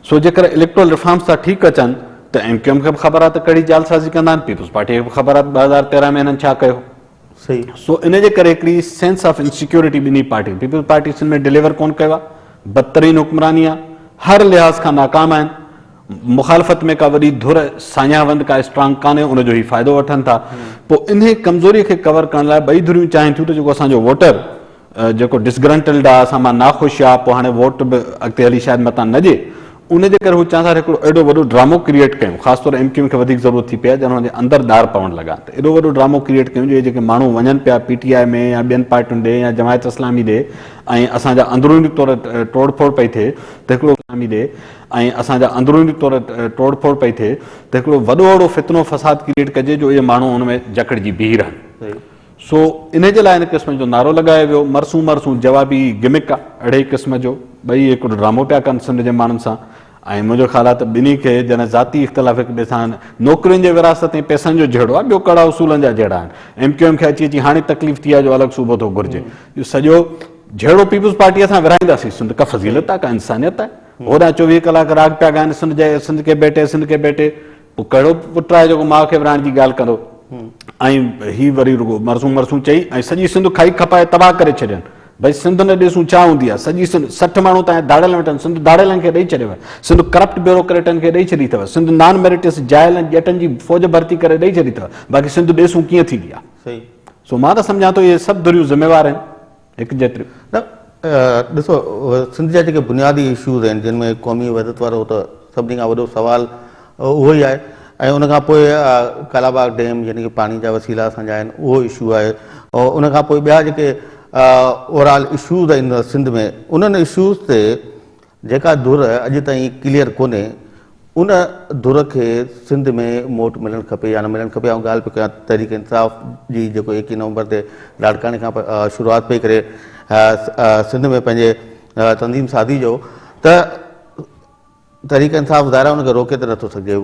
Speaker 2: سو جيڪر اليڪٽورل ريفارمز ٿا ٺيڪ اچن ته ايم ڪيو ايم کي به خبر آهي ته ڪهڙي جعلسازي ڪندا آهن، پيپلز پارٽيء کي به خبر آهي ته ٻه هزار تيرهن ۾ هنن ڇا ڪيو. سو
Speaker 1: ان جي ڪري
Speaker 2: هڪڙي سينس آف انسيڪيورٽي ٻنهي پارٽين، پيپلز پارٽي سنڌ ۾ ڊليور ڪونه ڪيو آهي، بدترين حڪمراني آهي، هر لحاظ کان ناڪام آهن، مخالفت ۾ ڪا وڏي ڌر ساڃاهه وند ڪا اسٽرانگ ڪانهي ان جو هي فائدو وٺن ٿا، پوء انهي ڪمزوري کي ڪور ڪرڻ لاء ٻئي ڌريون چاهين ٿيون ته جيڪو اسان جو ووٽر جيڪو ڊسگرنٽلڊ آ، اسان مان ناخوش آ، پوء هاڻي ووٽ به اڳتي هلي شايد متان نه ڏي. ان جي ڪري هو چاهندا ته هڪڙو اهڙو وڏو ڊرامو ڪريئيٽ ڪيون، خاص طور ايم ڪيو ايم کي وڌيڪ ضرورت ٿي پئي آ، ڄڻ هن جي اندر ڏار پوڻ لڳا ته اهڙو وڏو ڊرامو ڪريئيٽ ڪيون جو هي جيڪي ماڻهو وڃن پيا پي ٽي آء ۾ يا ٻين پارٽين ڏي يا جماعت اسلامي ڏي ۽ اسان جا اندروني طور ٽوڙ ڦوڙ پئي ٿئي ته هڪڙو اسلامي ڏي ۽ اسان جا اندروني طور ٽوڙ ڦوڙ پئي ٿئي ته هڪڙو وڏو اهڙو فتنو فساد ڪريئيٽ ڪجي جو اهي ماڻهو ان ۾ جڪڙجي بيهي رهن. سو انهي جي لاء ان قسم جو نعرو لڳايو ويو، مرسون مرسون جوابي گمڪ آ، اڙهي قسم جو ٻئي هڪڙو ڊرامو پيا ڪن سنڌ جي ماڻهن سان ۽ منهنجو خيال آ ته ٻنهي کي جڏهن ذاتي اختلاف هڪ ٻئي سان نوڪرين جي ورهاست ۽ پئسن جو جهيڙو آ ٻيو ڪڙا اصولن جا جهيڙا آهن ايم ڪيو ايم کي اچي اچي هاڻي تڪليف ٿي آ جو الڳ صوبو ٿو گهرجي جو سڄو جهيڙو پيپلز پارٽيء سان ورهائينداسين سنڌ ڪا فضيلت آ ڪا انسانيت آ هوڏانهن چوويهه ڪلاڪ راڳ پيا ڳائن سنڌ جي سنڌ ڪي بيٽي سنڌ ڪي بيٽي هو ڪهڙو پٽ آهي جيڪو ماء کي ورهائڻ جي ڳالهه ڪندو ۽ هي وري رڳو مرسون مرسون چئي ۽ سڄي سنڌ کائي کپائي تباهه ڪري ڇڏين. ڀئي سنڌ نه ڏسون ڇا هوندي آهي. سڄي سنڌ سٺ ماڻهو تان ڌاڙيل ويٺن. سنڌ ڌاڙيلن کي ڏئي ڇڏيو آهي. سنڌ ڪرپٽ بيوروڪريٽن کي ڏئي ڇڏي اٿو. سنڌ نان ميريٽس جاهل ۽ ڄٽن جي فوج ڀرتي ڪري ڏئي ڇڏي اٿو. باقي سنڌ ڏسون ڪيئن ٿيندي آهي. سو مان
Speaker 1: ته سمجهان
Speaker 2: ٿو اهي سڀ ڌريون ذميوار آهن. يڪجهٽ نه
Speaker 1: ڏسو سنڌ جا جيڪي بنيادي اشوز آهن جن ۾ قومي وحدت وارو ته سڀني کان وڏو سوال اهو ئي آهي ۽ ان کان پوء ڪالاباغ ڊيم يعني ڪي پاڻي جا وسيلا اسان جا آهن اهو اشو آهي ان کان پوء ٻيا جيڪي اوور آل اشوز آهن سنڌ ۾ انهن اشوز تي جيڪا ڌر اڄ تائين ڪليئر ڪونهي ان ڌر کي سنڌ ۾ موٽ ملڻ کپي يا نه ملڻ کپي آئون ڳالهه پيو ڪيان تحريڪ انصاف جي جيڪو ايڪيهه نومبر تي لاڙڪاڻي کان شروعات پئي ڪري سنڌ ۾ پنهنجي تنظيم سازي جو ته تحريڪ انصاف ظاهر ان کي روڪي ته نٿو سگهجي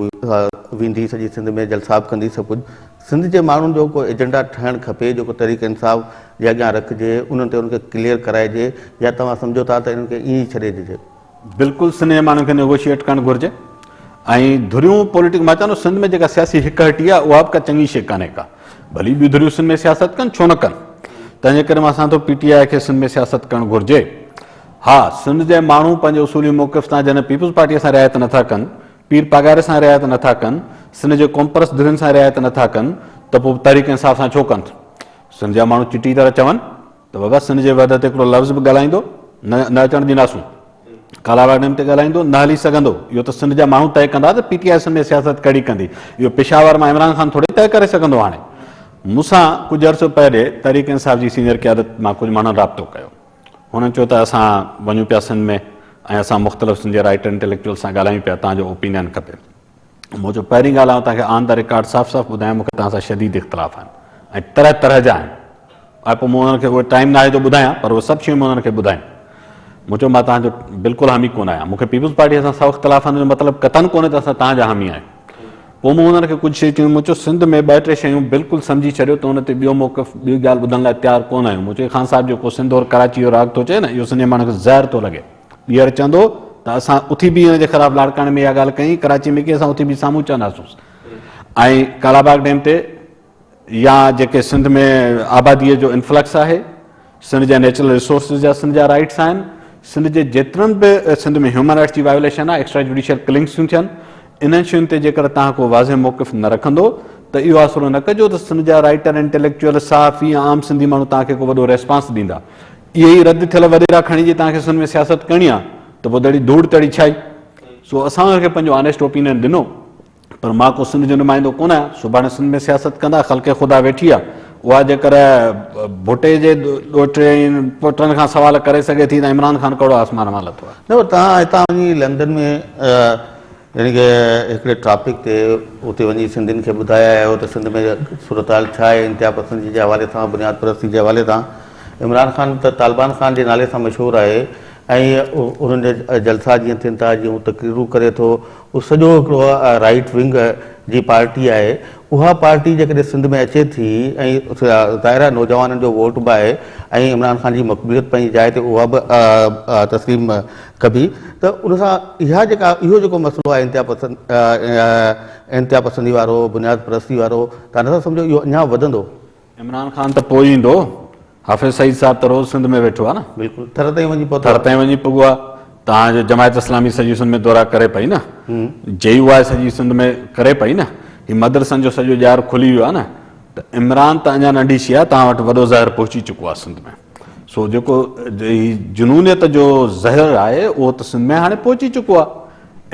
Speaker 1: ويندي سڄي سنڌ ۾ جلسا به ڪندي سڀ ڪجهه سنڌ جي ماڻهن جو ڪو ايجنڊا ٺهڻ کپي جيڪو تحريڪ انصاف جي اڳيان رکجي انهن تي انهن کي ڪليئر ڪرائجي يا توهان سمجهو ٿا ته انهن کي ائين ئي ڇڏي ڏجي. بلڪل سنڌ جي ماڻهن کي
Speaker 2: نيگوشيئيٽ ڪرڻ گهرجي ۽ ڌريون پوليٽڪ مان چوان ٿو سنڌ ۾ جيڪا سياسي هڪ هٽي آهي اها به ڪا چڱي شي ڪانهي ڪا ڀلي ٻيون ڌريون سنڌ ۾ سياست ڪن ڇو نه ڪن تنهنجي ڪري مان سان ٿو پي ٽي آء کي سنڌ ۾ سياست ڪرڻ گهرجي ها سنڌ جي ماڻهو پنهنجي اصولي موقف تان جڏهن پيپلز پارٽي سان رعايت نٿا ڪن پير پاڳاري سان رعايت نه ٿا ڪن، سنڌ جي قومپرست ڌرين سان رعايت نه ٿا ڪن ته پوء تحريڪ انصاف سان ڇو ڪن ٿا؟ سنڌ جا ماڻهو چٽي طرح چون ته بابا سنڌ جي وحدت تي هڪڙو لفظ به ڳالهائيندو نه نه اچڻ ڏينداسون، ڪالاواڙ ڊيم تي ڳالهائيندو نه هلي سگهندو، اهو ته سنڌ جا ماڻهو طئي ڪندا ته پي ٽي آء سنڌ ۾ سياست ڪهڙي ڪندي، اهو پشاور مان عمران خان ٿوري طئي ڪري سگهندو هاڻي مون سان ڪجهه عرصو پهري تحريڪ انصاف جي سينيئر قيادت مان ڪجهه ماڻهن رابطو ڪيو. هن چيو ته اسان وڃون پيا سنڌ ۾ ۽ اسان مختلف سنڌي رائٽر انٽيليڪچوئل سان ڳالهايون پيا، تان جو اوپينين کپي. مون چيو پهرين ڳالهه آئون تان کي آن ده ريڪارڊ صاف صاف ٻڌايان مون کي تان سان شديد اختلاف آهن ۽ طرح طرح جا آهن ۽ پوء مون انهن کي اهي ٽائيم ناهي جو ٻڌايان پر اهي سڀ شيون مون انهن کي ٻڌايون. مون چيو مان تان جو بلڪل حامي ڪونه آهيان مون کي پيپلز پارٽيء سان سو اختلاف آهن ان جو مطلب قطعاً ڪونه ته اسان تان جا حامي آهيون. پوء مون هن کي ڪجهه شيون چيون. مون چيو سنڌ ۾ ٻه ٽي شيون بلڪل سمجهي ڇڏيو ته ان تي ٻيو موقف ٻي ڳالهه ٻڌڻ لاء تيار ڪونه آهيون. مون چيو خان صاحب جيڪو سنڌ اور ڪراچي جو راڳ ٿو چئي نه اهو سنڌي ماڻهن کي زهر ٿو لڳي. ٻيهر چوندو ته اسان اٿي به ان جي خلاف لاڙڪاڻي ۾ اها ڳالهه ڪئي ڪراچي ۾ ڪئي اسان اٿي به سامهون چونداسونس ۽ ڪالاباغ ڊيم تي يا جيڪي سنڌ ۾ آباديء جو انفلڪس آهي، سنڌ جا نيچرل ريسورسز جا سنڌ جا رائيٽس آهن، سنڌ جي جيترن به سنڌ ۾ هيومن رائيٽس جي وائيوليشن آهي، ايڪسٽرا جوڊيشل ڪلنگس ٿيون ٿين، انهن شين تي جيڪر توهان ڪو واضح موقف نه رکندو ته اهو آسرو نه ڪجو ته سنڌ جا رائيٽر، انٽيليڪچوئل، صحافي ۽ عام سنڌي ماڻهو توهان کي ڪو وڏو ريسپانس ڏيندا. اهي ئي رد ٿيل وڏيرا کڻي جي توهان کي سنڌ ۾ سياست ڪرڻي آهي ته پوء دڙي ڌوڙ تڙي ڇا ئي. سو اسان ان کي پنهنجو آنيسٽ اوپينئن ڏنو. پر مان ڪو سنڌ جو نمائندو ڪونه آهيان، سڀاڻي سنڌ ۾ سياست ڪندا خلق خدا ويٺي آهي، اها جيڪر ڀٽي جي ڏوهٽي ۽ پوٽن کان سوال ڪري سگهي ٿي ته عمران خان ڪهڙو آسمان مان لٿو آهي. نه پر توهان هتان وڃي
Speaker 1: لنڊن ۾ يعني ڪه هڪڙي ٽاپڪ تي اتي وڃي سنڌين کي ٻڌائي آيا آهيو ته سنڌ ۾ صورتحال ڇا آهي انتها پسندي جي حوالي سان بنياد پرستي جي حوالي سان عمران خان ته طالبان خان جي نالي سان مشهور آهي ۽ انهن جا جلسا جيئن ٿين ٿا جيئن هو تقريرون ڪري ٿو هو سڄو هڪڙو رائيٽ ونگ جي پارٽي آهي اها پارٽي جيڪڏهن سنڌ ۾ اچي ٿي ۽ ظاهر آهي نوجوانن جو ووٽ به آهي ۽ عمران خان جي مقبوليت پنهنجي جاء تي اها به تسليم ڪبي ته ان سان اها جيڪا اهو جيڪو مسئلو آهي انتها پسند انتها پسندي وارو بنياد پرستي وارو تان نه سمجهو اهو اڃا وڌندو عمران خان
Speaker 2: ته پوء ايندو، حافظ سعيد صاحب ته روز سنڌ ۾ ويٺو آهي نه. بلڪل، ٿر تائين وڃي پهتو آهي.
Speaker 1: ٿر تائين وڃي پڳو
Speaker 2: آهي. توهان جو جماعت اسلامي سڄي سنڌ ۾ دورا ڪري پئي نه. جي يو آء سڄي سنڌ ۾ ڪري پئي نه. هي مدرسن جو سڄو ڄار کلي ويو آهي نه. ته عمران ته اڃا ننڍي شيء آهي، توهان وٽ وڏو زهر پهچي چڪو آهي سنڌ ۾. سو جيڪو هي جنونيت جو زهر آهي، اهو ته سنڌ ۾ هاڻي پهچي چڪو آهي.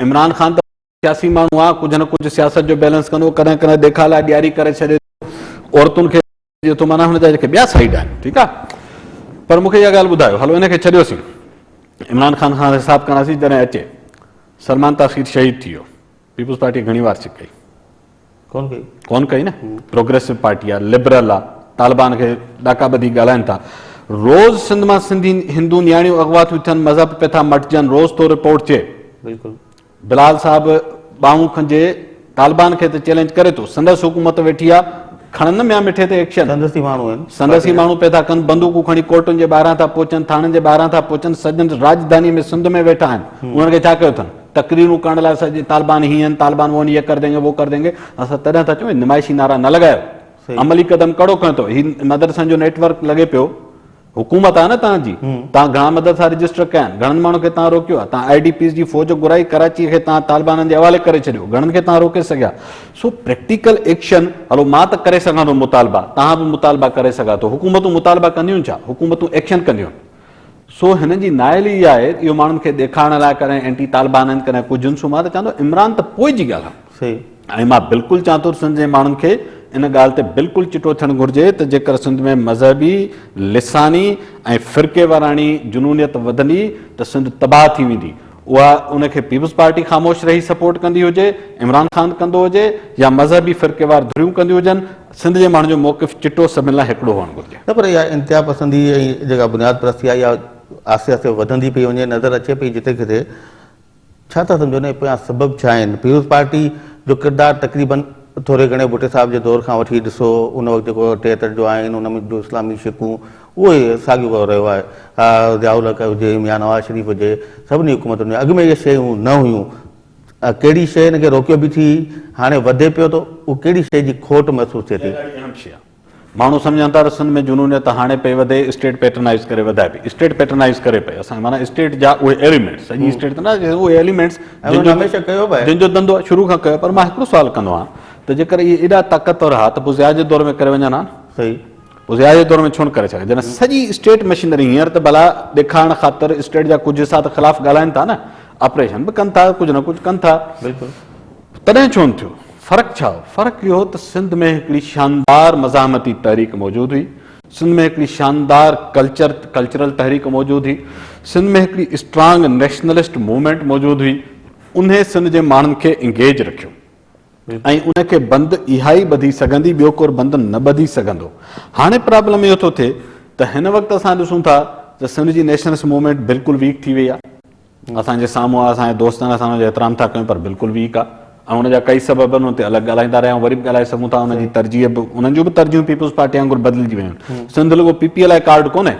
Speaker 2: عمران خان ته. سياسي ماڻهو آ ڪجهه نه ڪجهه سياست جو بيلنس ڪندو ڪڏهن ڪڏهن ڏيکاء لاء ڏياري ڪري ڇڏي ٿو عورتن کي ڏي ٿو معنيٰ هن جا جيڪي ٻيا سائيڊ آهن ٺيڪ آ پر مون کي اها ڳالهه ٻڌايو هلو ان کي ڇڏيوسين عمران خان کان حساب ڪنداسين جڏهن اچي سلمان تاخير شهيد ٿي ويو پيپلز پارٽي گهڻي وار سڪ ڪئي ڪون ڪئي ڪون ڪئي نه پروگريسو پارٽي آ لبرل آ طالبان کي ڏاڪا ٻڌي ڳالهائن ٿا روز سنڌ مان سنڌي هندو نياڻيون اغوا ٿيون ٿين مذهب پيا ٿا مٽجن روز تو رپورٽ چي بلڪل
Speaker 1: بلال صاحب
Speaker 2: ٻانهون کنجي طالبان کي ته چئلينج ڪري ٿو سندس حڪومت ويٺي آ کڻن نه ميان مٺي تي ايڪشن سندس ئي ماڻهو
Speaker 1: آهن سندس ئي ماڻهو پئي ٿا ڪن
Speaker 2: بندوقون کڻي ڪورٽن جي ٻاهران ٿا پهچن ٿاڻن جي ٻاهران ٿا پهچن سڄڻ راڄڌاني ۾ سنڌ ۾ ويٺا آهن انهن کي ڇا ڪيو اٿن تقريرون ڪرڻ لاء سڄي طالبان هي آهن طالبان وون هي ڪر دينگي وو ڪر دينگي اسان تڏهن ٿا چون نمائشي نعرا نه لڳايو عملي قدم ڪهڙو کنيو اٿو هي مدرسن جو نيٽ ورڪ لڳي پيو حڪومت آهي نه توهان جي، توهان گهڻا مدرسا رجسٽر ڪيا آهن، گهڻن ماڻهن کي توهان روڪيو آهي، توهان آء ڊي پيز جي فوج گهرائي، ڪراچيء کي توهان طالبانن جي حوالي ڪري ڇڏيو، گهڻن کي توهان روڪي سگهيا، سو پريڪٽيڪل ايڪشن هلو مان ته ڪري سگهان ٿو مطالبا، توهان به مطالبا ڪري سگهان ٿو، حڪومتون مطالبا ڪنديون ڇا، حڪومتون ايڪشن ڪنديون، سو هنن جي نائل ئي آهي اهو ماڻهن کي ڏيکارڻ لاء ڪڏهن اينٽي طالبان آهن ڪڏهن ڪجهه آهن، سو مان ته چوان ٿو عمران ته پوء جي ڳالهه آهي. سي ۽ مان بلڪل چوان ٿو ته سنڌ جي ماڻهن کي ان ڳالهه تي بلڪل چٽو ٿيڻ گهرجي ته جيڪر سنڌ ۾ مذهبي، لساني ۽ فرقيواراڻي جنونيت وڌندي ته سنڌ تباهه ٿي ويندي اها ان کي پيپلز پارٽي خاموش رهي سپورٽ ڪندي هجي، عمران خان ڪندو هجي يا مذهبي فرقيوار ڌريون ڪنديون هجن سنڌ جي ماڻهن جو موقف چٽو سڀن لاء هڪڙو هئڻ گهرجي. نه پر اها انتها
Speaker 1: پسندي ۽ جيڪا بنياد پرستي آهي اها آهستي آهستي وڌندي پئي وڃي نظر اچي پئي جتي ڪٿي ڇا ٿا سمجهو انهي پويان سبب ڇا آهن؟ پيپلز پارٽي جو ڪردار تقريباً ٿوري گهڻي ڀٽي صاحب جي دور کان وٺي ڏسو ان وقت جيڪو ٽيهتر جو آئين ان ۾ جو اسلامي شقون اهو ئي ساڳيو ڪو رهيو آهي اها ضياء الحق هجي ميان نواز شريف هجي سڀني حڪومتن ۾ اڳ ۾ اهي شيون نه هيون ته ڪهڙي شيء ان کي روڪيو به ٿي هاڻي وڌي پيو ٿو اهو ڪهڙي شيء جي کوٽ محسوس ٿئي ٿي؟ اها ڏاڍي اهم شيء آهي. ماڻهو سمجهن
Speaker 2: ٿا ته سنڌ ۾ جنونيت هاڻي پئي وڌي اسٽيٽ پيٽرنائيز ڪري وڌائي پئي اسٽيٽ پيٽرنائيز ڪري پئي اسان معنيٰ اسٽيٽ جا اهي ايليمينٽس سڄي اسٽيٽ ته نه اهي ايليمينٽس
Speaker 1: جن جو ڌنڌو شروع کان
Speaker 2: ڪيو پر مان هڪڙو سوال ڪندو آهيان ته جيڪر اهي ايڏا طاقتور ها ته پوء ضياء جي دور ۾ ڪري وڃن ها نه صحيح پوء ضياء
Speaker 1: جي دور
Speaker 2: ۾ ڇونه ڪري سگهن جڏهن سڄي اسٽيٽ مشينري هينئر ته ڀلا ڏيکارڻ خاطر اسٽيٽ جا ڪجهه حصا ته خلاف ڳالهائين ٿا نه آپريشن به ڪن ٿا ڪجهه نه ڪجهه ڪن ٿا بلڪل
Speaker 1: تڏهن ڇو نه
Speaker 2: ٿيو؟ فرق ڇا هو؟ فرق اهو هو ته سنڌ ۾ هڪڙي شاندار مزاحمتي تحريڪ موجود هئي، سنڌ ۾ هڪڙي شاندار ڪلچر، Cultural، تحريڪ موجود هئي، سنڌ ۾ هڪڙي اسٽرانگ نيشنلسٽ موومينٽ موجود هئي، انهي سنڌ جي ماڻهن کي انگيج رکيو ۽ ان کي بند اها ئي ٻڌي سگهندي، ٻيو ڪور بند نه ٻڌي سگهندو. هاڻي پرابلم اهو ٿو ٿئي ته هن وقت اسان ڏسون ٿا ته سنڌ جي نيشنلسٽ موومينٽ بلڪل ويڪ ٿي وئي آهي، اسان جي سامهون اسان جي دوستن اسان جو احترام ٿا ڪيون پر بلڪل ويڪ آ ۽ ان جا ڪئي سبب آهن ان تي الڳ ڳالهائيندا رهيا آهيون وري به ڳالهائي سگهون ٿا ان جي ترجيح به انهن جون به ترجيحون پيپلز پارٽي وانگر بدلجي ويون آهن سنڌ لڳو پي پي لاء ڪارڊ ڪونهي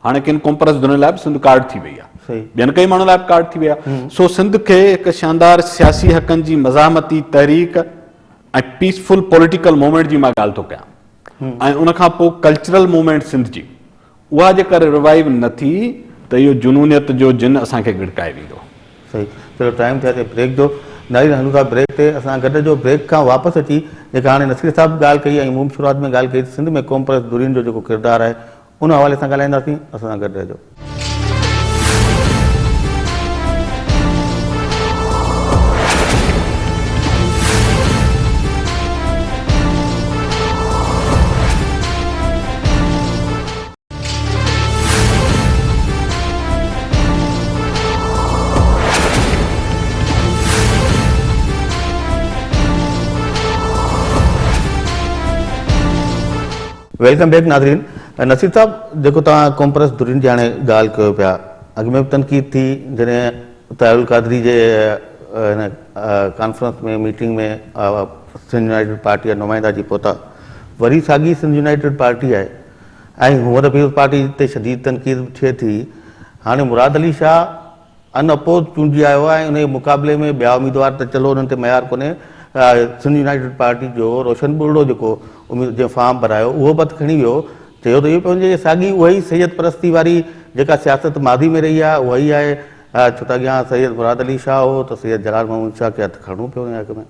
Speaker 2: هاڻي ڪن ڪومپرس ڌرين لاء به سنڌ ڪارڊ ٿي وئي آهي ٻين ڪئي ماڻهن لاء به ڪارڊ ٿي وئي آهي سو سنڌ کي هڪ شاندار سياسي حقن جي مزاحمتي تحريڪ ۽ پيسفل پوليٽيڪل موومينٽ جي مان ڳالهه ٿو ڪيان ۽ ان کان پوء ڪلچرل موومينٽ سنڌ جي اها جي ڪر روائيو نه ٿي ته اهو جنونيت جو جن اسان کي ڳڙڪائي ويندو. صحيح چلو
Speaker 1: ٽائيم ٿي اچي بريڪ جو ناظرين هلون ٿا بريڪ تي اسان گڏ جو بريڪ کان واپس اچي جيڪا هاڻي نصير صاحب به ڳالهه ڪئي ۽ مون به شروعات ۾ ڳالهه ڪئي ته سنڌ ۾ قومپرست ڌرين جو جيڪو ڪردار آهي ان حوالي سان ڳالهائينداسين اسان سان گڏ رهجو. ويلڪم بيڪ ناظرين نصير صاحب جيڪو توهان ڪومپرس دھرين جي هاڻي ڳالهه ڪيو پيا اڳ ۾ به تنقيد ٿي جڏهن طاهر القادري جي هن conference ۾ meeting ۾ Sindh united party جا نمائندا اچي پهتا وري ساڳي سنڌ يونائيٽيڊ پارٽي آهي ۽ هونئر پيپلز پارٽي تي شديد تنقيد ٿئي ٿي هاڻي مراد علي شاهه ان اپوز چونڊجي آيو آهي ۽ ان جي مقابلي ۾ ٻيا اميدوار ته چلو انهن تي معيار ڪونهي سنڌ يونائيٽيڊ پارٽي جو روشن ٻرڙو جيڪو جنهن فارم ڀرايو اهو به هٿ کڻي ويو چيو ته اهو پيو وڃي ته ساڳي اها ئي سيد پرستي واري جيڪا سياست ماضي ۾ رهي آهي اها ئي آهي ڇو ته اڳيان سيد مراد علي شاهه هو ته سيد جلال محمود شاهه کي هٿ کڻڻو پيو وڃي حق ۾.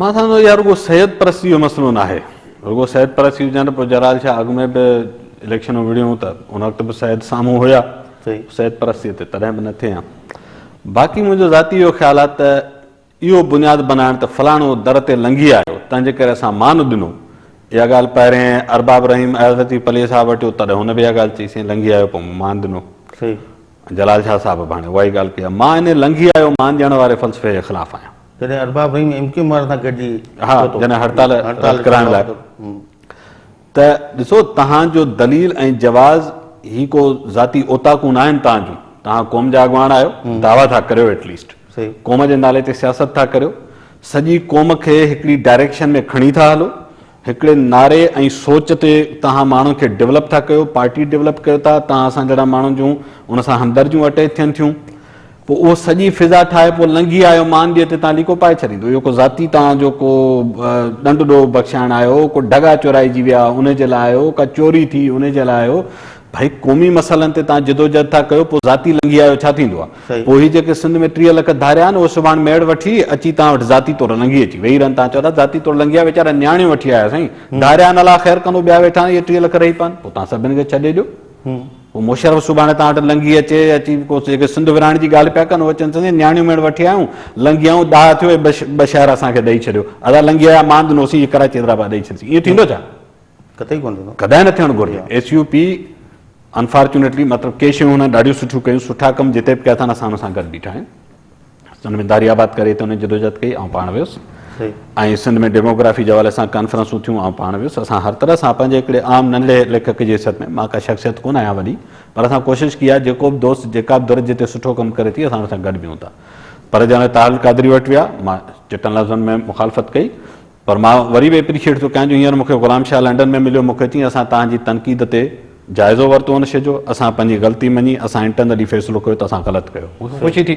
Speaker 2: مان سمجهان ٿو اها رڳو سيد پرستي جو مسئلو ناهي رڳو سيد پرستي هجان ته پوء جلال شاهه اڳ ۾ به اليڪشنون وڙهيون ته ان وقت به سيد سامهون هيا سيد پرستي تي تڏهن به نه ٿي ها باقي منهنجو ذاتي اهو خيال آهي ته اهو بنياد بنائڻ ته فلاڻو در تي لنگهي آيو، تنهنجي ڪري اسان مان ڏنو. اها ڳالهه پهرين ارباب رحيم ايازتي پليء صاحب وٽ هو، تڏهن هن به اها ڳالهه چئي، سائين لنگهي آيو پوء مون مان ڏنو. ۽
Speaker 1: جلال شاهه
Speaker 2: صاحب به هاڻي اها ئي ڳالهه ڪئي آهي. مان انهي لنگهي آيو، مان ڏيڻ واري فلسفي جي خلاف آهيان. جڏهن Arbab Rahim M
Speaker 1: Q M وارن سان گڏجي پهتو. ها، جڏهن
Speaker 2: هڙتال رد ڪرائڻ لاء ته ڏسو توهان جو دليل ۽ جواز هي ڪو ذاتي اوطاقون نه آهن توهان جون، توهان قوم جا اڳواڻ آهيو، دعويٰ ٿا ڪريو ايٽ ليسٽ، قوم جي نالي تي سياست ٿا ڪريو، سڄي قوم کي هڪڙي ڊائريڪشن ۾ کڻي ٿا هلو، هڪڙي نعري ۽ سوچ تي توهان ماڻهن کي ڊولپ ٿا ڪيو، پارٽي ڊولپ ڪيو ٿا، توهان اسان جهڙا ماڻهن جون ان سان همدرديون اٽيچ ٿين ٿيون. پوء اهو سڄي فضا ٺاهي پوء لنگهي آيو مان ڏي تي تان ليڪو پائي ڇڏيندو. اهو ڪو ذاتي تان جو ڪو ڏنڊ ڏوهه بخشائڻ آيو هو، ڪو ڍڳا چورائجي ويا انهي جي لاء آيو هو، ڪا چوري ٿي انهي جي لاء آيو هو. ڀئي قومي مسئلن تي تان جدوجهد ٿا ڪيو پوء ذاتي لنگهي آيو ڇا ٿيندو آ؟ پوء هي جيڪي سنڌ ۾ ٽيهه لک ڌاريا آهن اهي سڀاڻ ميڙ وٺي اچي تان وٽ ذاتي طور لنگهي اچي ويهي رهن تان چئو ٿا ذاتي طور لنگهي آيا ويچارا نياڻيون وٺي آيا سائين ڌاريا ان لاء خير ڪندو ٻيا ويٺا آهن اهي ٽيهه لک رهي پون پوء تان سڀن کي ڇڏي ڏيو. هو مشرف سڀاڻي توهان وٽ لنگهي اچي، اچي ڪو جيڪي سنڌ ورهائڻ جي ڳالهه پيا ڪن اهي چون ٿا نياڻيون ميڻ وٺي آيون، لنگهيائون، ڏاهه ٿيو ۽ ٻه شهر اسان کي ڏئي ڇڏيو، ادا لنگهي آيا ماند نوسي جي ڪراچي حيدرآباد ڏئي ڇڏيسين، ائين ٿيندو ڇا؟ قطعي ڪونه ٿيندو. ڪڏهن نه ٿيڻ گهرجي. ايس يو پي انفارچونيٽلي مطلب ڪي شيون هن ڏاڍيون سٺيون ڪيون، سٺا ڪم جتي به ڪيا اٿن اسان هن سان گڏ بيٺا آهيون. سنڌ ۾ داري آباد ڪري تي انهن جدوجهد ڪئي آئون پاڻ ويس ۽ سنڌ ۾ ڊيموگرافي جي حوالي سان ڪانفرنسون ٿيون آئون پاڻ ويس اسان هر طرح سان پنهنجي هڪڙي عام ننڍي ليکڪ جي حيثيت ۾ مان ڪا شخصيت ڪونه آهيان وڏي پر اسان ڪوشش ڪئي آهي جيڪو به دوست جيڪا به ڌر جتي سٺو ڪم ڪري ٿي اسان ان سان گڏ بيهون ٿا پر جڏهن طاهر القادري وٽ ويا مان چٽن لفظن ۾ مخالفت ڪئي پر مان وري به اپريشيئيٽ ٿو ڪيان جو هينئر مونکي غلام شاهه لنڊن ۾ مليو مونکي چيائين اسان توهان جي تنقيد تي جائزو ورتو ان شي جو اسان پنهنجي غلطي مڃي اسان انٽرنلي فيصلو ڪيو ته اسان غلط ڪيو مونکي خوشي ٿي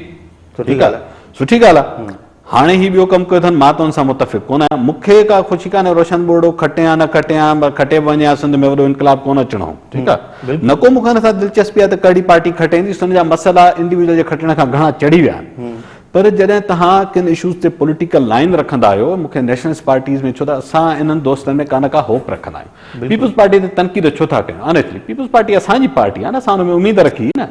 Speaker 2: سٺي ڳالهه آهي سٺي ڳالهه آهي هاڻي هي ٻيو ڪم ڪيو اٿن مان ته ان سان متفق ڪونه آهيان مونکي ڪا خوشي ڪانهي روشن ٻورڙو کٽي يا نه کٽي يا کٽي به وڃي ها سنڌ ۾ وڏو انقلاب ڪونه اچڻو هو ٺيڪ آهي نه ڪو مونکي ان سان دلچسپي آهي ته ڪهڙي پارٽي کٽي ايندي سنڌ جا مسئلا انڊيويڊل جي کٽڻ کان گهڻا چڙهي ويا آهن پر جڏهن توهان ڪن اشوز تي پوليٽيڪل لائين رکندا آهيو مون کي نيشنلسٽ پارٽيز ۾ ڇو ته اسان انهن دوستن ۾ ڪا نه ڪا هوپ رکندا آهيون پيپلز پارٽي تي تنقيد ڇو ٿا ڪيون آنيسٽلي پيپلز پارٽي اسان جي پارٽي آهي نه اسان ان ۾ اميد رکي نه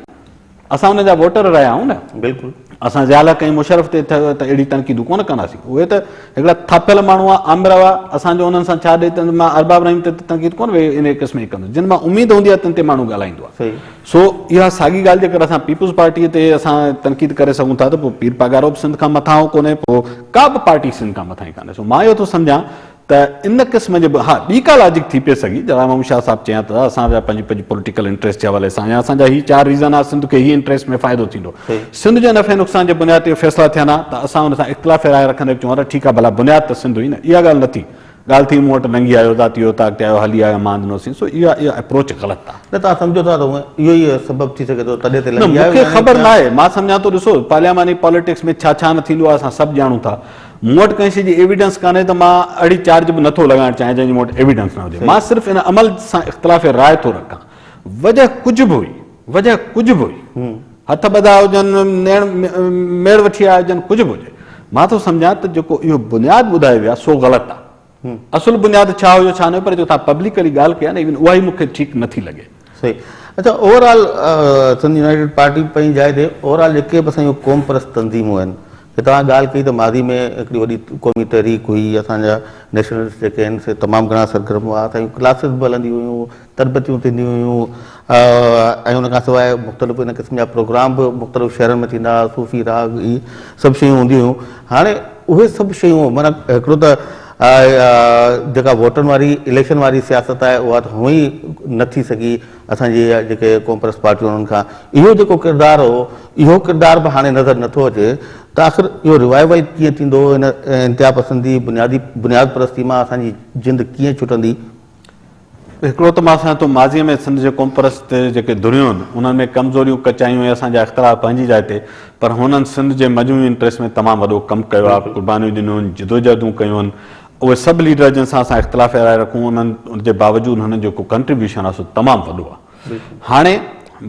Speaker 2: اسان انهن جا ووٽر رهيا آهيون نه بلڪل اسان ضياء الحق ۽ مشرف تي ته اهڙي تنقيدون ڪونه ڪنداسين اهي ته هڪڙا ٿاڦيل ماڻهو آ آمر هئا اسان جو انهن سان ڇا ڏي ته مان ارباب رحيم تي ته تنقيد ڪونه ويهي انهي قسم جي ڪندس جن مان اميد هوندي آهي تن تي ماڻهو ڳالهائيندو آهي سو اها ساڳي ڳالهه جيڪر اسان پيپلز پارٽيء تي اسان تنقيد ڪري سگهون ٿا ته پوء پير پاڳارو به سنڌ کان مٿانهون ڪونهي، پوء ڪا به پارٽي سنڌ کان مٿانهين ڪانهي. سو مان اهو ٿو سمجهان ته ان قسم جي به ها ٻي ڪا لاجڪ ٿي پئي سگهي جهڙا محمد شاهه صاحب چيان ته اسان جا پنهنجي پنهنجي پوليٽيڪل انٽريسٽ جي حوالي سان يا اسان جا هي چار ريزن آهي سنڌ کي هي انٽريسٽ ۾ فائدو ٿيندو سنڌ جي نفعي نقصان جي بنياد تي فيصلا ٿين ها ته اسان ان سان اختلافي راء رکندي به چون ها ته ٺيڪ آهي ڀلا بنياد ته سنڌ هئي نه اها ڳالهه نه ٿي ڳالهه ٿي مون وٽ لنگهي آيو ذاتي اوطاق تي آيو هلي آيو ماند نوسين سو اها اها اپروچ غلط آهي. نه توهان سمجهو ٿا ته اهو ئي سبب ٿي سگهي ٿو تڏهن تي نه لنگهي آيو مون کي يعني خبر ڪيئن؟ ناهي مان سمجهان ٿو ڏسو پارلياماني پاليٽڪس ۾ ڇا ڇا نه ٿيندو آهي اسان سڀ ڄاڻون ٿا مون وٽ ڪنهن شي جي ايويڊنس ڪانهي ته مان اهڙي چارج به نٿو لڳائڻ چاهيان جنهن جي مون وٽ ايويڊنس نه هجي مان صحيح صرف ان عمل سان اختلاف راء ٿو رکان وجهه ڪجهه به هئي وجهه ڪجهه به هئي هٿ ٻڌا هجن، نيڻ ميڙ وٺي آيا هجن، ڪجهه به هجي، مان ٿو سمجهان ته جيڪو اهو بنياد ٻڌايو ويو آهي سو غلط آهي. اصل بنياد ڇا هيو ڇا نه هيو پر جو توهان پبلڪلي ڳالهه ڪئي آهي نه ايون اها ئي مون کي ٺيڪ نه ٿي لڳي. صحيح. اچا overall Sindh united party پنهنجي جاء تي اوور آل جيڪي به اسان جون قوم پرست تنظيمون آهن جي توهان ڳالهه ڪئي ته ماضي ۾ هڪڙي وڏي قومي تحريڪ هئي اسان جا نيشنلسٽ جيڪي آهن سي تمام گهڻا سرگرم هئا اسان جون ڪلاسز به هلنديون هيون تربيتون ٿينديون هيون ۽ ان کان سواء مختلف ان قسم جا پروگرام به مختلف شهرن ۾ ٿيندا هئا صوفي راڳ هي سڀ شيون هونديون هيون هاڻي اهي سڀ شيون مانا هڪڙو ته جيڪا ووٽن واري اليڪشن واري سياست آهي اها ته هئي نه ٿي سگهي اسان جي جيڪي قومپرست پارٽيون انهن کان اهو جيڪو ڪردار هو اهو ڪردار به هاڻي نظر نٿو اچي ته آخر اهو ريوائيول ڪيئن ٿيندو ان انتها پسندي بنيادي بنياد پرستي مان اسان جي جند ڪيئن ڇٽندي هڪڙو ته مان سمجهان ٿو ماضيء ۾ سنڌ جي قومپرست تي جيڪي ڌريون هن، انهن ۾ ڪمزوريون، ڪچايون ۽ اسان جا اختلاف پنهنجي جاء تي، پر هنن سنڌ جي مجموعي انٽريسٽ ۾ تمام وڏو ڪم ڪيو آهي، قربانيون ڏنيون آهن، جدوجهدون ڪيون آهن. اهي سڀ ليڊر جن سان اسان اختلاف راء رکون انهن جي باوجود هنن جو جيڪو ڪنٽريبيوشن آهي سو تمام وڏو آهي. هاڻي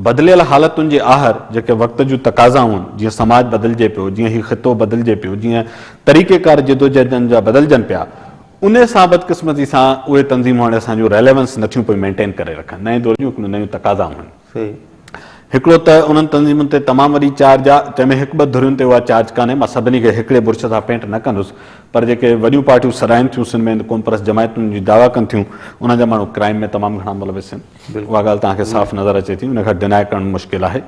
Speaker 2: بدليل حالتن جي آهر جيڪي وقت جون تقاضائون آهن، جيئن سماج بدلجي پيو، جيئن هي خطو بدلجي پيو، جيئن طريقيڪار جدوجهدن جا بدلجن پيا، انهيء سان بدقسمتي سان اهي تنظيمون هاڻي اسان جون ريليونس نه ٿيون پئي مينٽين ڪري رکن. نئين دور جون هڪڙيون نيون تقاضائون آهن. هڪڙو ته انهن تنظيمن تي تمام وڏي چارج آ، تنهن ۾ هڪ ٻه ڌرين تي اها چارج ڪانهي، مان سڀني کي هڪڙي برش سان پينٽ نه ڪندس، پر جيڪي وڏيون پارٽيون سڏائين ٿيون سنڌ ۾ هند قومپرست جماعتون جي دعويٰ ڪن ٿيون، انهن جا ماڻهو ڪرائيم ۾ تمام گهڻا ملوث آهن. اها ڳالهه توهان کي صاف نظر اچي ٿي، ان کي ڊناء ڪرڻ مشڪل آهي.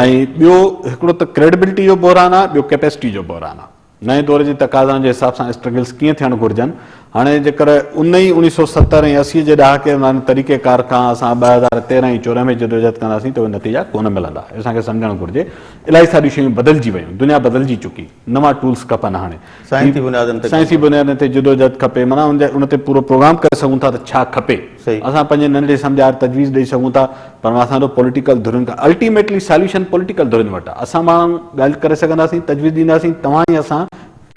Speaker 2: ۽ ٻيو هڪڙو ته ڪريڊبلٽي جو بحران آ، ٻيو ڪيپيسٽي جو بحران آ. نئين دور جي تقاضائن جي حساب سان اسٽرگلز ڪيئن ٿيڻ گهرجن. هاڻي جيڪر ان ئي اڻيهه سؤ ستر ۽ اسي جي ڏهاڪي وارن طريقي ڪار کان اسان ٻه هزار تيرهن ۽ چورهن ۾ جدوجهد ڪنداسين ته اهي نتيجا ڪونه ملندا. اسان کي سمجهڻ گهرجي الائي ساريون شيون بدلجي ويون. دنيا بدلجي چڪي. نوان ٽولز کپن هاڻي. سائنسي بنيادن تي ڪم ڪرڻ. سائنسي بنيادن تي جدوجهد کپي. معنيٰ ان تي پورو پروگرام ڪري سگهون ٿا ته ڇا کپي. اسان پنهنجي ننڍي سمجهار تجويز ڏئي سگهون ٿا پر اسان جو پوليٽيڪل ڌرين کان الٽيميٽلي ساليوشن پوليٽيڪل ڌرين وٽ آهي اسان ماڻهو ڳالهه ڪري سگهنداسين تجويز ڏينداسين توهان ۽ اسان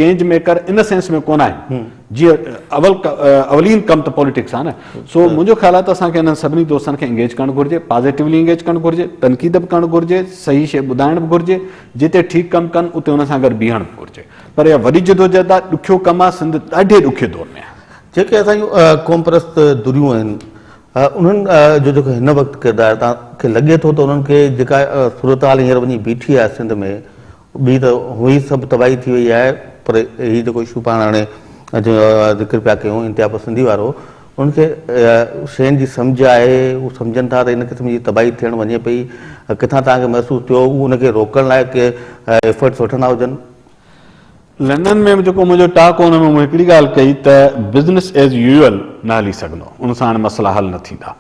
Speaker 2: چينج ميڪر ان سينس ۾ ڪونه آهيون جيئن اول اولين ڪم ته پوليٽڪس آهي نه سو منهنجو خيال آهي ته اسان کي انهن سڀني دوستن کي انگيج ڪرڻ گهرجي پازيٽوولي انگيج ڪرڻ گهرجي تنقيد به ڪرڻ گهرجي صحيح شيء ٻڌائڻ به گهرجي جتي ٺيڪ ڪم ڪن اتي انهن سان گڏ بيهڻ به گهرجي پر اها وڏي جدوجهد آهي ڏکيو ڪم آهي سنڌ ڏاڍي ڏکي دور ۾ آهي جيڪي اسان جون
Speaker 1: قومپرست ڌريون آهن انهن جو جيڪو هن وقت ڪردار تان کي لڳي ٿو ته انهن کي جيڪا صورتحال هينئر وڃي بيٺي آهي سنڌ ۾ ٻي ته هئي سڀ تباهي ٿي وئي آهي پر هي جيڪو اشو پاڻ هاڻي ذڪر پيا ڪيون انتها پسندي وارو انهن کي شين جي سمجهه آهي هو سمجهن ٿا ته ان قسم جي تباهي ٿيڻ وڃي پئي ڪٿان تان کي محسوس ٿيو هو ان کي روڪڻ لاء ڪي ايفرٽس وٺندا هجن.
Speaker 2: لنڊن ۾ به جيڪو منهنجو ٽاڪ هو ان ۾ مون هڪڙي ڳالهه ڪئي ته بزنس ايز يوئل نه هلي سگهندو، ان سان هاڻي مسئلا حل نه ٿيندا.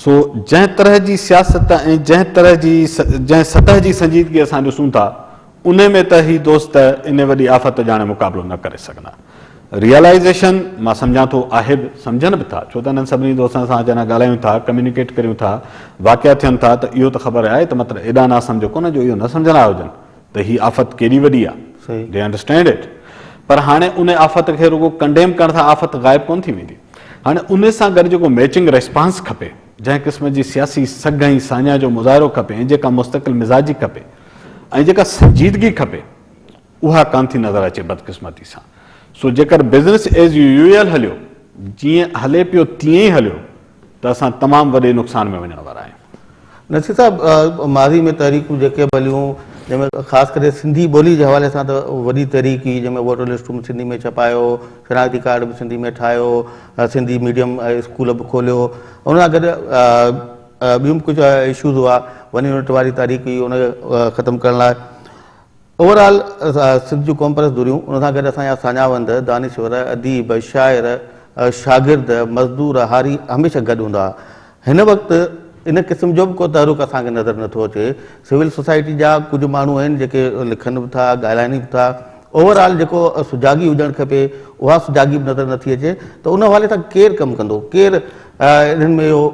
Speaker 2: سو جنهن طرح جي سياست ۽ جنهن طرح جي جنهن سطح جي سنجيدگي اسان ڏسون ٿا انهي ۾ ته هي دوست انهي وڏي آفت جاڻي مقابلو نه ڪري سگهندا. ريئلائيزيشن مان سمجهان ٿو آهي به، سمجهن به ٿا ڇو ته انهن سڀني دوستن سان جڏهن ڳالهايون ٿا، ڪميونيڪيٽ ڪريون ٿا، واقعا ٿين ٿا ته اهو ته خبر آهي ته مطلب ايڏا ناسمجهه ڪونه جو اهو نه سمجهندا هجن. ته هي آفت ڪيڏي وڏي آ They understand it پر هاڻي ان آفت کي رڳو ڪنڊيم ڪرڻ سان آفت غائب ڪونه ٿي ويندي هاڻي ان سان گڏ جيڪو ميچنگ ريسپانس کپي جنهن قسم جي سياسي سگهه ۽ ساڃاهه جو مظاهرو کپي ۽ جيڪا مستقل مزاجي کپي ۽ جيڪا سنجيدگي کپي اها ڪانه ٿي نظر اچي بدقسمتي سان سو جيڪر بزنس ايز يويل هليو جيئن هلي پيو تيئن ئي هليو ته اسان تمام وڏي نقصان ۾ وڃڻ وارا آهيون. نصير صاحب
Speaker 1: ماضي ۾ تحريڪون جيڪي به هليون جنهن ۾ خاص ڪري سنڌي ٻولي جي حوالي سان ته وڏي تحريڪ هئي جنهن ۾ ووٽر لسٽون به سنڌي ۾ ڇپايو شناختي ڪارڊ به سنڌي ۾ ٺاهيو سنڌي ميڊيم اسڪول به کوليو ان سان گڏ ٻيون به ڪجهه اشوز هئا وني ونٽ واري تحريڪ هئي ان کي ختم ڪرڻ لاء اوور آل سنڌ جون قومپرست ڌريون ان سان گڏ اسان جا ساڃاهوند، دانشور، اديب، شاعر، شاگرد، مزدور، هاري هميشه گڏ هوندا. هن وقت ان قسم جو به ڪو تحرڪ اسان کي نظر نه ٿو اچي. سول سوسائٽي جا ڪجهه ماڻهو آهن جيڪي لکن به ٿا، ڳالهائين به ٿا. اوور آل جيڪو سجاڳي هجڻ کپي اها سجاڳي به نظر نه ٿي اچي ته ان حوالي سان ڪير ڪم ڪندو، ڪير انهن ۾ اهو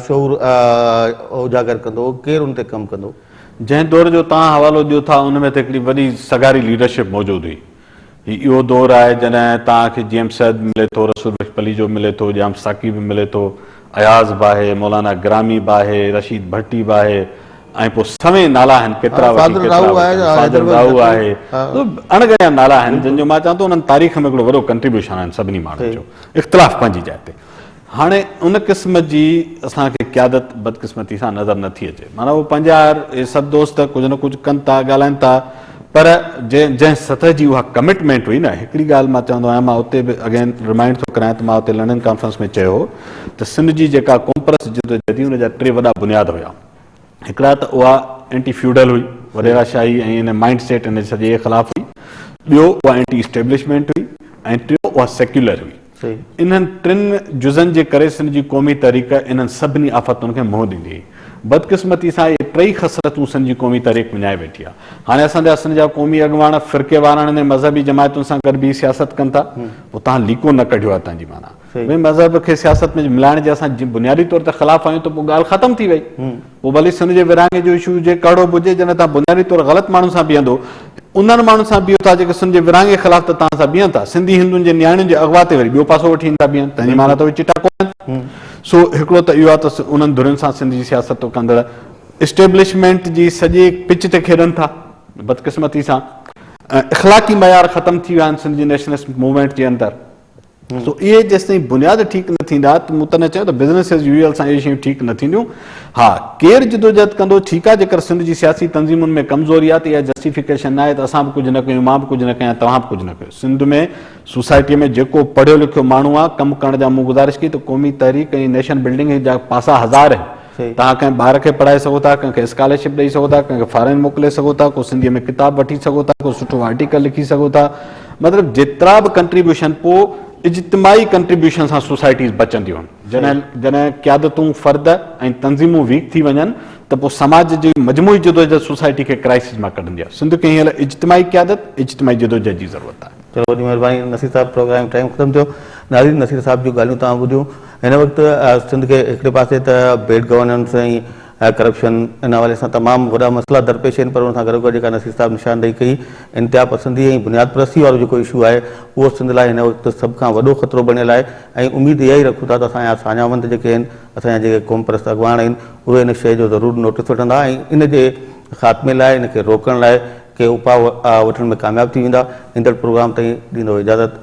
Speaker 1: شعور اجاگر ڪندو، ڪير ان تي ڪم ڪندو. جنهن دور جو
Speaker 2: توهان حوالو ڏيو ٿا ان ۾ ته هڪڙي وڏي سگهاري ليڊرشپ موجود هئي. هي اهو دور آهي جڏهن توهان کي جي ايم سيد به ملي ٿو، رسول بخش پليجو به ملي ٿو، ڄام ساقي به ملي ٿو، اياز به آهي، مولانا گرامي به آهي، رشيد ڀٽي به آهي ۽ پوء سوين نالا آهن ڪيترا وٺي ڪيترا وٺن، فاضل راهو آهي، اڻ ڳڻيا نالا آهن جن جو مان چوان ٿو انهن تاريخ ۾ هڪڙو وڏو ڪنٽريبيوشن آهن سڀني ماڻهن جو، اختلاف پنهنجي جاء تي. هاڻي ان قسم جي اسان کي قيادت بدقسمتي سان نظر نه ٿي اچي. معنيٰ اهو پنهنجا آهر اهي سڀ دوست ڪجهه نه ڪجهه ڪن ٿا، ڳالهائين ٿا، پر جنهن سطح جي اها ڪمٽمينٽ هئي نه هڪڙي ڳالهه مان چوندو آهيان مان اتي به اگين رمائنڊ ٿو ڪرايان ته مان اتي لنڊن ڪانفرنس ۾ چيو هو ته سنڌ جي جيڪا قومپرست جدوجهد هئي ان جا ٽي وڏا بنياد هيا هڪڙا ته اها اينٽي فيوڊل هئي، وڏيرا شاهي ۽ ان مائنڊ سيٽ ان سڄي خلاف هئي، ٻيو اها اينٽي اسٽيبلشمينٽ هئي ۽ ٽيون اها سيڪيولر هئي. انهن ٽن جزن جي ڪري سنڌ جي قومي تحريڪ انهن سڀني آفتن کي منهن ڏيندي هئي. بدقسمتي سان اهي ٽئي خصلتون سنڌ جي قومي تحريڪ وڃائي ويٺي آهي. هاڻي اسان جا سنڌ جا قومي اڳواڻ فرقي وارانه ۾ مذهبي جماعتن سان گڏ بيهي سياست ڪن ٿا. هو تهان ليڪو نه ڪڍيو آهي تنهنجي معنيٰ. مذهب کي سياست ۾ ملائڻ جي اسان بنيادي طور تي خلاف آهيون ته پوء ڳالهه ختم ٿي وئي. پوء ڀلي سنڌ جي ورهاڱي جو اشو هجي، ڪهڙو به هجي، جڏهن توهان بنيادي طور غلط ماڻهن سان بيهندو، انهن ماڻهن سان بيهو ٿا جيڪي سنڌ جي ورهاڱي خلاف ته توهان سان بيهن ٿا، سنڌي هندن جي نياڻين جي اغوا تي وري ٻيو پاسو وٺي هن ٿا بيهن، تنهن جي معنيٰ ته اهي چٽا ڪونهن. سو هڪڙو ته اهو آهي ته انهن ڌرين سان سنڌ جي سياست ڪندڙ اسٽيبلشمينٽ جي سڄي پچ تي کيڏن ٿا، بدقسمتي سان اخلاقي معيار ختم ٿي ويا آهن سنڌ جي نيشنلسٽ موومينٽ جي اندر. سو اهي جيستائين بنياد ٺيڪ نه ٿيندا ته مون تڏهن چيو ته بزنس ايز يوزل سان اهي شيون ٺيڪ نه ٿينديون. ها ڪير جدوجهد ڪندو ٺيڪ آهي جيڪر سنڌ جي سياسي تنظيمن ۾ ڪمزوري آهي ته اها جسٽيفڪيشن ناهي ته اسان به ڪجهه نه ڪيون مان به ڪجهه نه ڪيان توهان به ڪجهه نه ڪيو سنڌ ۾ سوسائٽي ۾ جيڪو پڙهيو لکيو ماڻهو آهي ڪم ڪرڻ جا مون گذارش ڪئي ته قومي تحريڪ ۽ نيشن بلڊنگ جا پاسا هزار توهان ڪنهن ٻار کي پڙهائي سگهو ٿا، ڪنهن کي اسڪالرشپ ڏئي سگهو ٿا، ڪنهن کي فارين موڪلي سگهو ٿا، ڪو سنڌيء ۾ ڪتاب وٺي سگهو ٿا، ڪو سٺو آرٽيڪل لکي سگهو ٿا. مطلب جيترا به ڪنٽريبيوشن پوء اجتماعي ڪنٽريبيوشن سان سوسائٽيز بچنديون. جڏهن جڏهن قيادتون فرد ۽ تنظيمون ويڪ ٿي وڃن ته پوء سماج جي مجموعي جدوجهد سوسائٽي کي ڪرائسز مان ڪڍندي آهي. سنڌ کي هن لاء اجتماعي قيادت، اجتماعي جدوجهد جي ضرورت آهي. چلو وڏي مهرباني نصير
Speaker 1: صاحب پروگرام ٽائيم ختم ٿيو ناظرين نصير صاحب جون ڳالهيون توهان ٻڌيون. هن وقت سنڌ کي هڪڙي پاسي ته بيڊ گورننس ۽ ڪرپشن ان حوالي سان تمام وڏا مسئلا درپيش آهن پر ان سان گڏوگڏ جيڪا نصير صاحب نشاندهي ڪئي انتها پسندي ۽ بنياد پرستي وارو جيڪو اشو آهي اهو سنڌ لاء هن وقت سڀ کان وڏو خطرو بڻيل آهي ۽ اميد اها ئي رکون ٿا ته اسان جا ساڃاهوند جيڪي آهن اسان جا جيڪي قومپرست اڳواڻ آهن اهي ان شيء جو ضرور نوٽس وٺندا ۽ ان جي خاتمي لاء ان کي روڪڻ لاء ڪي اپاء وٺڻ ۾ ڪامياب ٿي ويندا ايندڙ پروگرام تائين ڏيندو اجازت